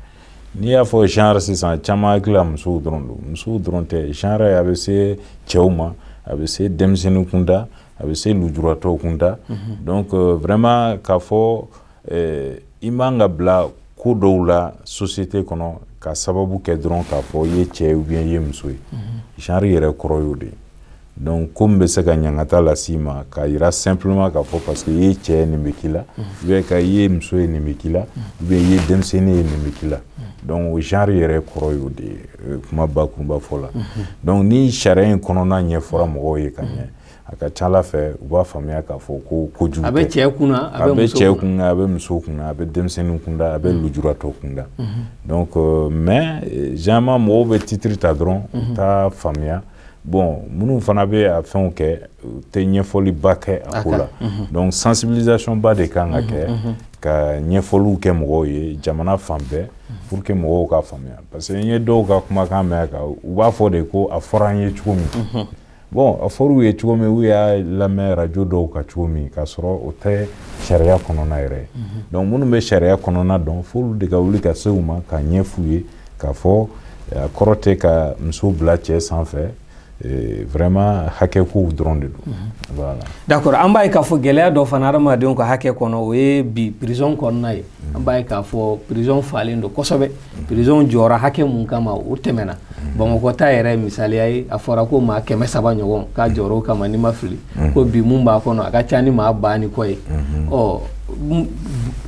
[SPEAKER 2] n'i y'a fɔ genre sisan caman hakili la musow dɔrɔn don musow dɔrɔn tɛ genre a bɛ se cɛw ma a bɛ se denmisɛnnin kunda a bɛ se lujuratɔw kunda donc vraiment k'a fɔ eh, i man ka bila ko dɔw la société kɔnɔ ka sababu kɛ dɔrɔn k'a fɔ i ye cɛ ou bien i ye muso ye mhm. genre yɛrɛ kɔrɔ y'o de ye donc ko min bɛ se ka ɲangata las'i ma k'a yira simplement k'a fɔ parce que i ye cɛ ye nin bɛ k'i la mhm. ou bien ka i ye muso ye nin bɛ k'i la mhm. ou bien i ye denmisɛnnin ye nin bɛ k'i la donc o genre yɛrɛ kɔrɔ y'o de ye euh, kuma bakurunba fɔ la donc ni sariya in kɔnɔna ɲɛfɔra mɔgɔw ye ka ɲɛ a ka ca a la fɛ u b'a faamuya k'a fɔ ko kojugu a bɛ cɛ
[SPEAKER 1] kun a bɛ cɛ kun
[SPEAKER 2] a bɛ muso kun a bɛ denmisɛnnin kunda a bɛ mm-hmm. lujuratɔ kunda mm-hmm. donc euh, mais euh, généralement mɔgɔw bɛ titre ta dɔrɔn u mm-hmm. t'a faamuya bon minnu fana bɛ a fɛnw kɛ u tɛ ɲɛfɔliba kɛ a ko la donc sensibilisation ba de kan ka kɛ ka ɲɛfɔliw kɛ mɔgɔw ye jamana fan bɛɛ pour que mɔgɔw k'a faamuya parce que n ye dɔw ka kumakan mɛn a kan u b'a fɔ de ko a fɔra an ye cogo min bon a fɔr'u ye cogo min u y'a lamɛn radio dɔw kan cogo min k'a sɔrɔ o tɛ sariya kɔnɔna yɛrɛ ye mhm. donc minnu bɛ sariya kɔnɔna dɔn f'olu de ka wuli ka se u ma k'a ɲɛf'u ye k'a fɔ a kɔrɔ tɛ ka muso bila cɛ sanfɛ Eh, vraiment hakɛ kow dɔrɔn de don mhm. voilà d'accord an b'a ye
[SPEAKER 1] k'a fɔ gɛlɛya dɔ fana adamadenw ka hakɛ kɔnɔ o ye bi prison kɔnɔna ye an b'a ye k'a fɔ prison falen don kosɛbɛ prison jɔra hakɛ mun kama o tɛmɛna bamakɔ ta yɛrɛ misaliya ye a fɔra ko maa kɛmɛ saba ɲɔgɔn k'a jɔr'o kama ni n ma fili ko bi mun b'a kɔnɔ a ka ca ni maa ba ni kɔ ye ɔ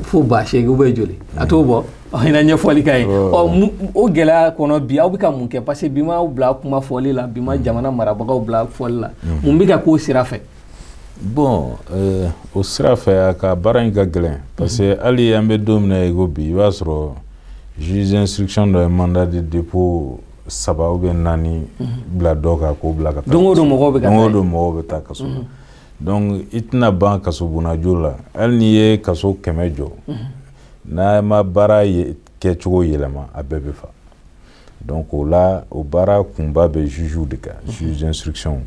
[SPEAKER 1] fo ba seegin ou bien joli a t'o bɔ i na ɲɛfɔli k'an ye ɔ o gɛlɛya kɔnɔ bi aw bɛ ka mun kɛ parce que bi maaw bila kuma fɔli la bi ma jamana marabagaw bila fɔli la mun bɛ ka k'o sira fɛ
[SPEAKER 2] bɔn euh, o sira fɛ a ka baara in ka gɛlɛn parce que hali an bɛ don min na i ko bi i b'a sɔrɔ juge d'instruction dɔ ye mandat de dépôt saba ou bien naani bila dɔ kan k'o bila ka taa don o don mɔgɔw bɛ ka taa don o
[SPEAKER 1] don mɔgɔw bɛ
[SPEAKER 2] taa kaso la donc i tɛna ban kasobonna jɔ la hali n'i ye kaso kɛmɛ jɔ n'an ma baara kɛcogo yɛlɛma a bɛɛ bɛ fa Don k'o la o baara kunba bɛ zzuuw de kan zzzsiricw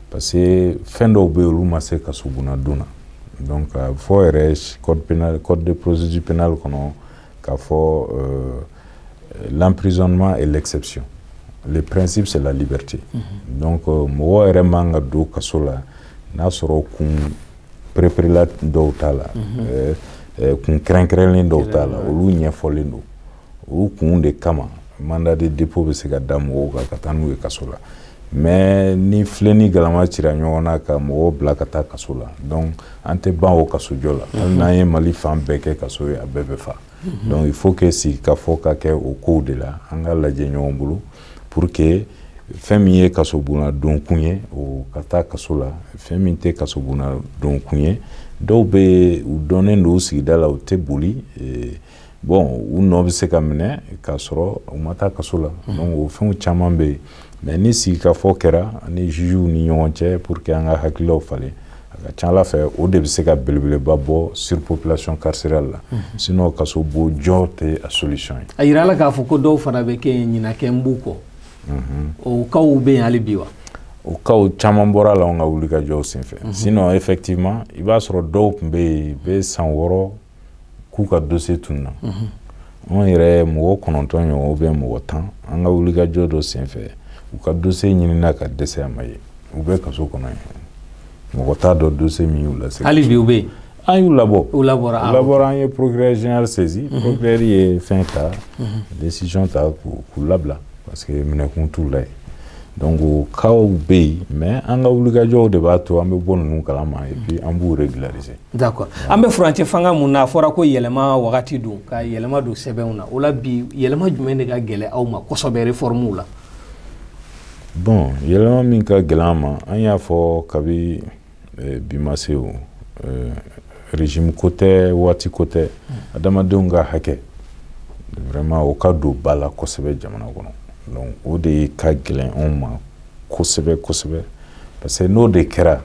[SPEAKER 2] parce que fɛn dɔw bɛ yen olu ma se ka sodon na ka fɔ yɛrɛ kɔden psisi pɛinali kɔnɔ ka fɔ laprisizzsononuma lɛgɛgcsɛcy presi bɛ se lali berete ko mɔgɔ yɛrɛ man ka don kaso la n'a sɔrɔ kun p-erela dɔw t'a la kun kɛrɛnkɛrɛnlen dɔw t'a la olu ɲɛfɔlen don o kun de kama mandat de dépôt bɛ se ka da mɔgɔw kan ka taa n'u ye kaso la mais ni filen ni galama cira ɲɔgɔn na ka mɔgɔw bila ka taa kaso la donc an tɛ ban o kasojɔ la hali n'an ye Mali fan bɛɛ kɛ kaso ye a bɛɛ bɛ fa donc il faut que sigikafɔ ka kɛ o kow de la an k'a lajɛ ɲɔgɔn bolo pour que fɛn min ye kasobonna donkun ye o ka taa kaso la fɛn min tɛ kasobonna donkun ye dɔw bɛ u dɔnnen don u sigida la u tɛ boli bɔn u nɔ bɛ se ka minɛ k'a sɔrɔ u ma taa kaso la mm. donc o fɛnw caman bɛ yen mais ni sigikafɔ kɛra an ni jugew ni ɲɔgɔn cɛ pour que an ka hakililaw falen a ka c'a la fɛ o de bɛ se ka belebeleba bɔ surpopulation carcérale la mm. sinon kasobon jɔ tɛ a solution ye a yirala k'a fɔ ko
[SPEAKER 1] dɔw fana bɛ kɛ yen ɲinan kɛlen b'u kɔ mm-hmm. o casw bɛ yen hali bi wa o casw
[SPEAKER 2] caman bɔra a la anw ka wulikajɔw senfɛ mhm. sinon effectivement i b'a sɔrɔ dɔw tun bɛ yen bɛ san wɔɔrɔ k'u ka dossier tununna anw yɛrɛ mɔgɔ kɔnɔntɔn ɲɔgɔn ou bien mɔgɔ tan an ka wulikajɔ dɔ senfɛ u ka dossier ɲinina ka dɛsɛ a ma ye u bɛ kaso kɔnɔ yen mɔgɔ t'a dɔn dossier min y'u lase hali bi u bɛ
[SPEAKER 1] yen an y'u labɔ
[SPEAKER 2] u labɔra ah,
[SPEAKER 1] labɔra an ye
[SPEAKER 2] procureur général saisi mhm. procureur ye fɛn ta mhm. décision ta k'u labila parce que minɛkun t'u la yen donc o casw bɛ yen mais an ka wulikajɔw de b'a to an bɛ bɔ ninnu kalama et puis an b'u régulariser d'accord an
[SPEAKER 1] bɛ furancɛ fanga min na a fɔra ko yɛlɛma wagati don ka yɛlɛma don sɛbɛnw na o la bi yɛlɛma jumɛn de ka gɛlɛn aw ma kosɛbɛ réformew la
[SPEAKER 2] bon yɛlɛma min ka gɛlɛn an ma an y'a fɔ kabi eh, bi ma se o eh, régime ko tɛ waati ko tɛ hmm. adamadenw ka hakɛ vraiment o ka don ba la kosɛbɛ jamana kɔnɔ donc o de ka gɛlɛn anw ma kosɛbɛ kosɛbɛ parce que n'o de kɛra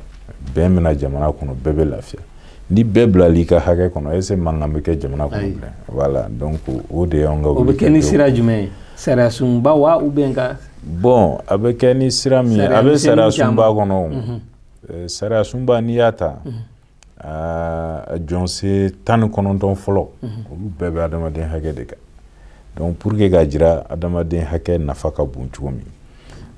[SPEAKER 2] bɛn bɛ na jamana kɔnɔ bɛɛ bɛ lafiya ni bɛɛ bilala i ka hakɛ kɔnɔ est-ce que mankan bɛ kɛ jamana kɔnɔ bilen voilà donc o de y'an ka o bɛ kɛ ni sira
[SPEAKER 1] jumɛn ye sariya sunba wa ou bien ka bon a
[SPEAKER 2] bɛ kɛ ni sira min ye a bɛ sariya sunba kɔnɔ o mhm. eh, sariya sunba n'i y'a ta mhm. a jɔsen tan ni kɔnɔntɔn fɔlɔ mhm. olu bɛɛ bɛ adamaden hakɛ de kan donc pour que k'a jira adamaden hakɛ nafa ka bon cogo min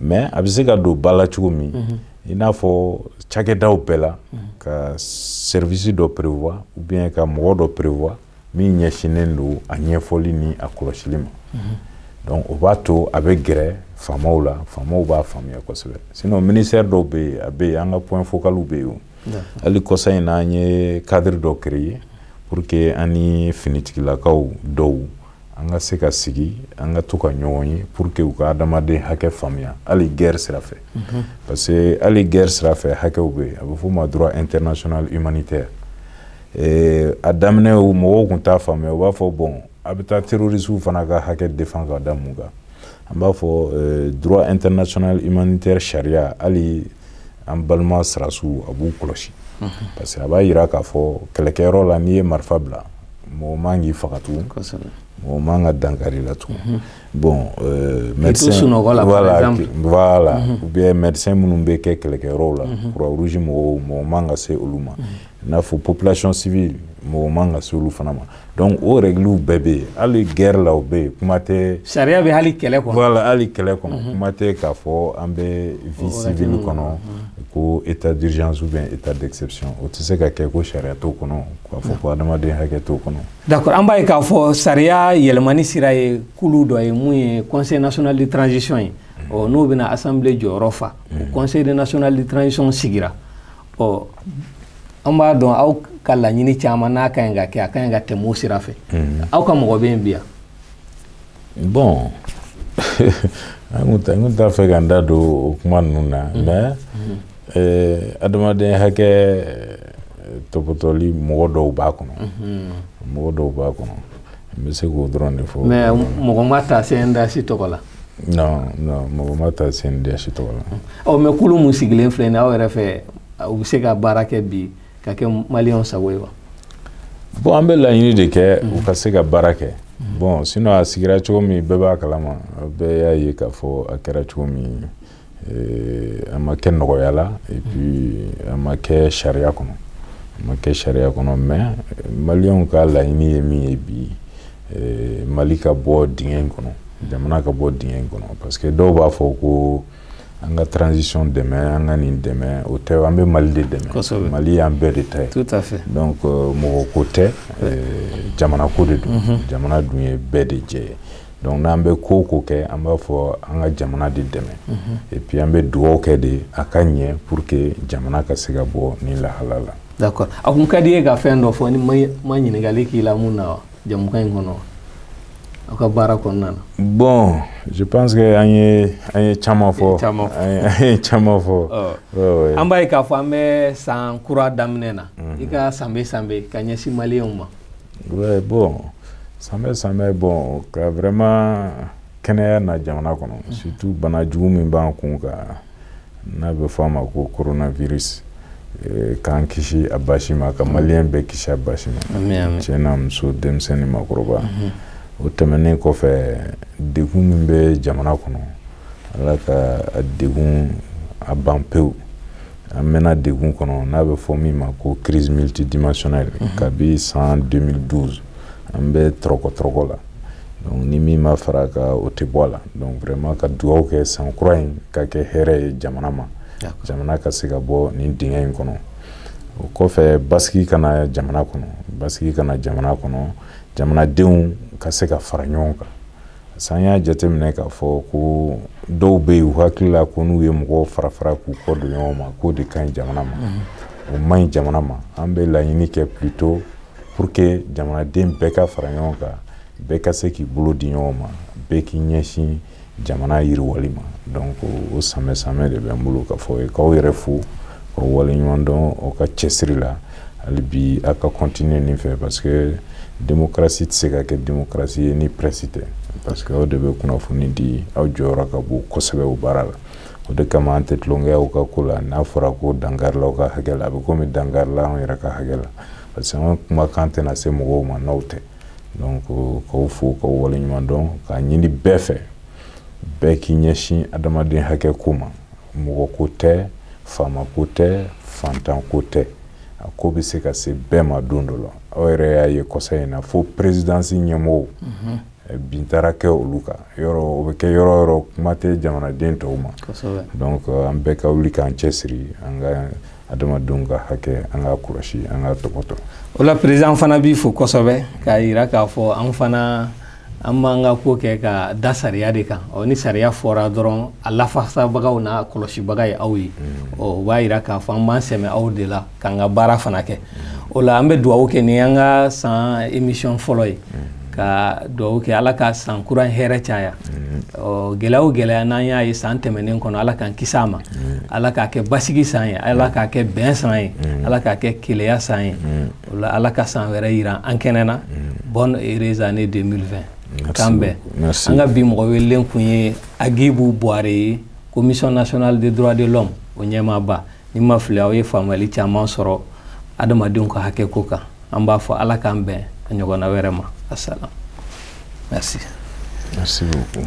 [SPEAKER 2] mais a bɛ se ka don ba la cogo min mhm. i n'a fɔ cakɛdaw bɛɛ la mhm. ka service dɔ prévoir ou bien ka mɔgɔ dɔ prévoir min ɲɛsinnen don a ɲɛfɔli ni a kɔlɔsili ma mhm. donc o b'a to a bɛ gɛrɛ faamaw la faamaw b'a faamuya kosɛbɛ sinon ministère dɔw bɛ yen a bɛ yen an ka point focaliw bɛ yen hali kɔsa in na an ye cadre dɔ créer pour que an ni finitigilakaw dɔw an ka se ka sigi an ka to ka ɲɔgɔn ye pour que u ka adamaden hakɛ faamuya hali guerre sira fɛ mhm. parce que hali guerre sira fɛ hakɛw bɛ yen a bɛ f'o ma droit international humanitaire a daminɛ mɔgɔw tun t'a faamuya u b'a fɔ bon a bɛ taa terroristew fana ka hakɛ défendre ka da mun kan an b'a fɔ droit international humanitaire sariya hali an balima sɔrɔdasiw a b'u kɔlɔsi parce que a b'a jira k'a fɔ kɛlɛkɛyɔrɔ la n'i ye marifa bila mɔgɔ man k'i faga tugun mɔgɔ man ka dankari i la tugun bon médecin voilà ou bien médecin minnu bɛ kɛ kɛlɛkɛyɔrɔ la croix rouge mɔgɔw mɔgɔ man ka se olu ma i n'a fɔ population civile mɔgɔ man ka se olu fana ma donc o règles bɛɛ bɛ yen hali guerre la o bɛ yen kuma tɛ sariya bɛ hali kɛlɛ
[SPEAKER 1] kɔnɔ voilà hali kɛlɛ kɔnɔ mhm.
[SPEAKER 2] kuma tɛ k'a fɔ an bɛ vie civile kɔnɔ mhm. ko état d'urgence ou bien état d'exception o tɛ se ka kɛ ko sariya t'o kɔnɔ k'a fɔ ko adamaden hakɛ t'o kɔnɔ d'accord an b'a ye k'a fɔ
[SPEAKER 1] sariya yɛlɛmani sira ye kulu dɔ ye mun ye conseil national de transition ye mhm. ɔ n'o bɛna assemblée jɔyɔrɔ fa o conseil national de transition sigira ɔ an b'a dɔn aw ka laɲini caman n'a ka ɲi ka kɛ a ka ɲi ka tɛmɛ o sira fɛ mm. aw ka mɔgɔ bɛ yen bi yan
[SPEAKER 2] bon n tun t'a fɛ ka n da don o kuma ninnu na mm. mais mm. Eh, adamaden hakɛ eh, tɔpɔtɔli mɔgɔ dɔw b'a kɔnɔ mm-hmm. mɔgɔ dɔw b'a kɔnɔ n bɛ se k'o dɔrɔn de fɔ mais mɔgɔ
[SPEAKER 1] ma ta CNDH tɔgɔ la non
[SPEAKER 2] non mɔgɔ ma ta CNDH tɔgɔ la ɔ mais kulu min sigilen
[SPEAKER 1] filɛ nin aw yɛrɛ fɛ u bɛ se ka baara kɛ bi ka kɛ maliyɛnw sago ye wa bon
[SPEAKER 2] an bɛ laɲini de kɛ u ka se ka baara kɛ bon sinon a sigira cogo min bɛɛ b'a kalama bɛɛ y'a ye k'a fɔ a kɛra cogo min a ma kɛ nɔgɔya la et puis a ma kɛ sariya kɔnɔ a ma kɛ sariya kɔnɔ mais maliyɛnw ka laɲini ye min ye bi mali ka bɔ dingɛ in kɔnɔ jamana ka bɔ dingɛ in kɔnɔ parce que dɔw b'a fɔ ko an ka transition dɛmɛ an ka nin dɛmɛ o tɛ an bɛ mali de dɛmɛ mali y'an bɛɛ de ta ye donc euh,
[SPEAKER 1] mɔgɔ ko
[SPEAKER 2] tɛ euh, jamana ko de don mhm. jamana dun ye bɛɛ de jɛ ye donc n'an bɛ ko o ko kɛ an b'a fɔ an ka jamana de dɛmɛ mhm. et puis an bɛ dugawu kɛ de a ka ɲɛ pour que jamana ka se ka bɔ nin lahala la. d'accord a tun ka di
[SPEAKER 1] i ye ka fɛn dɔ fɔ ne ma ma ɲininkali k'i la min na wa jɛmukan in kɔnɔ aw ka baara kɔnɔna na. bon
[SPEAKER 2] je pense que an ye an ye caman fɔ caman fɔ an ye caman fɔ. an b'a ye k'a fɔ an bɛ
[SPEAKER 1] san kura daminɛ na mhm. i ka sanbɛ sanbɛ ka ɲɛsin maliyɛnw ma. Oui,
[SPEAKER 2] bon, sanbɛ sanbɛ bon ka vraiment kɛnɛya na jamana kɔnɔ mhm. surtout bana jugu min b'an kun kan n'a bɛ fɔ a ma ko coronavirus eh, k'an kisi a basi ma ka mhm. maliyɛn bɛɛ kisi a basi ma cɛ n'a muso denmisɛn ni makɔrɔba mhm. o tɛmɛnen kɔfɛ degun min bɛ jamana kɔnɔ ala k'a degun a ban pewu an mɛnna degun kɔnɔ n'a bɛ fɔ min ma ko crise multidimensionnelle mhm. kabi san 2012 an bɛ tɔrɔkɔ tɔrɔkɔ la donc ni min ma fara a kan o tɛ bɔ a la donc vraiment ka dugawu kɛ san kura in ka kɛ hɛrɛ ye jamana ma jamana ka se ka bɔ nin dingɛ in kɔnɔ o kɔfɛ basigi ka na jamana kɔnɔ basigi ka na jamana kɔnɔ jamanadenw ka se ka fara ɲɔgɔn kan san y'a jateminɛ k'a fɔ ko dɔw bɛ yen u hakili la ko n'u ye mɔgɔw fara fara k'u kɔ don ɲɔgɔn ma k'o de ka ɲi jamana ma o man ɲi jamana ma an bɛ laɲini kɛ plutôt pour que jamanaden bɛɛ ka fara ɲɔgɔn kan bɛɛ ka se k'i bolo di ɲɔgɔn ma bɛɛ k'i ɲɛsin jamana yiriwali ma donc o sanbɛ sanbɛ de bɛ n bolo k'a fɔ i ye k'aw yɛrɛ fo k'aw waleɲumandɔn aw ka cɛsiri la hali bi a ka continuer nin fɛ parce que démocratie tɛ se ka kɛ démocratie ye ni presse tɛ parce que aw de bɛ kunnafoni di aw jɔyɔrɔ ka bon kosɛbɛ o baara la o de kama an tɛ tulonkɛ aw ka ko la n'a fɔra ko dankarila aw ka hakɛ la a bɛ komi dankarila anw yɛrɛ ka hakɛ la parce que an ka kumakan tɛna se mɔgɔw ma n'aw tɛ donc k'aw fo k'aw waleɲuman dɔn k'a ɲini bɛɛ fɛ bɛɛ k'i ɲɛsin adamaden hakɛ ko ma mɔgɔ ko tɛ faama ko tɛ fantan ko tɛ a ko bɛ se ka se bɛɛ ma don dɔ la aw yɛrɛ y'a ye kɔsa in na fo perezidansi ɲɛmɔgɔw mhm. eh, bin taara kɛ olu kan yɔrɔ o bɛ kɛ yɔrɔ yɔrɔ kuma tɛ jamanaden tɔw ma donc euh, an bɛɛ ka wuli k'an cɛsiri an ka adamadenw ka hakɛ an k'a kɔlɔsi an k'a tɔpɔtɔ o la perezidan
[SPEAKER 1] fana b'i fo kosɛbɛ k'a jira k'a fɔ an fana an b'an ka ko kɛ ka da sariya de kan ɔ ni sariya fɔra dɔrɔn a lafasabagaw n'a kɔlɔsibaga ye aw ye mm. ɔ o b'a yira k'a fɔ an b'an sɛmɛ aw de la k'an ka baara fana kɛ mm. o la an bɛ dugawu kɛ ni an ka san emisiyɔn fɔlɔ ye mm. ka dugawu kɛ ala ka san kura hɛrɛ caya ɔ gɛlɛya o gɛlɛya n'an y'a ye san tɛmɛnen kɔnɔ ala k'an kisi a ma ala k'a kɛ basigi san ye ala k'a kɛ bɛn san ye ala k'a kɛ kelenya san ye o la ala ka san wɛrɛ yira an kɛnɛ na mm. bonne heureuse année 2020 kan bɛɛ an ka bi mɔgɔ welelen kun ye agibu buware ye commission nationale des droits de l'homme o ɲɛmaaba ni n ma fili aw ye faamuyali caman sɔrɔ adamadenw ka hakɛ ko kan an b'a fɔ ala k'an bɛn a ɲɔgɔnna wɛrɛ ma asalam merci merci beaucoup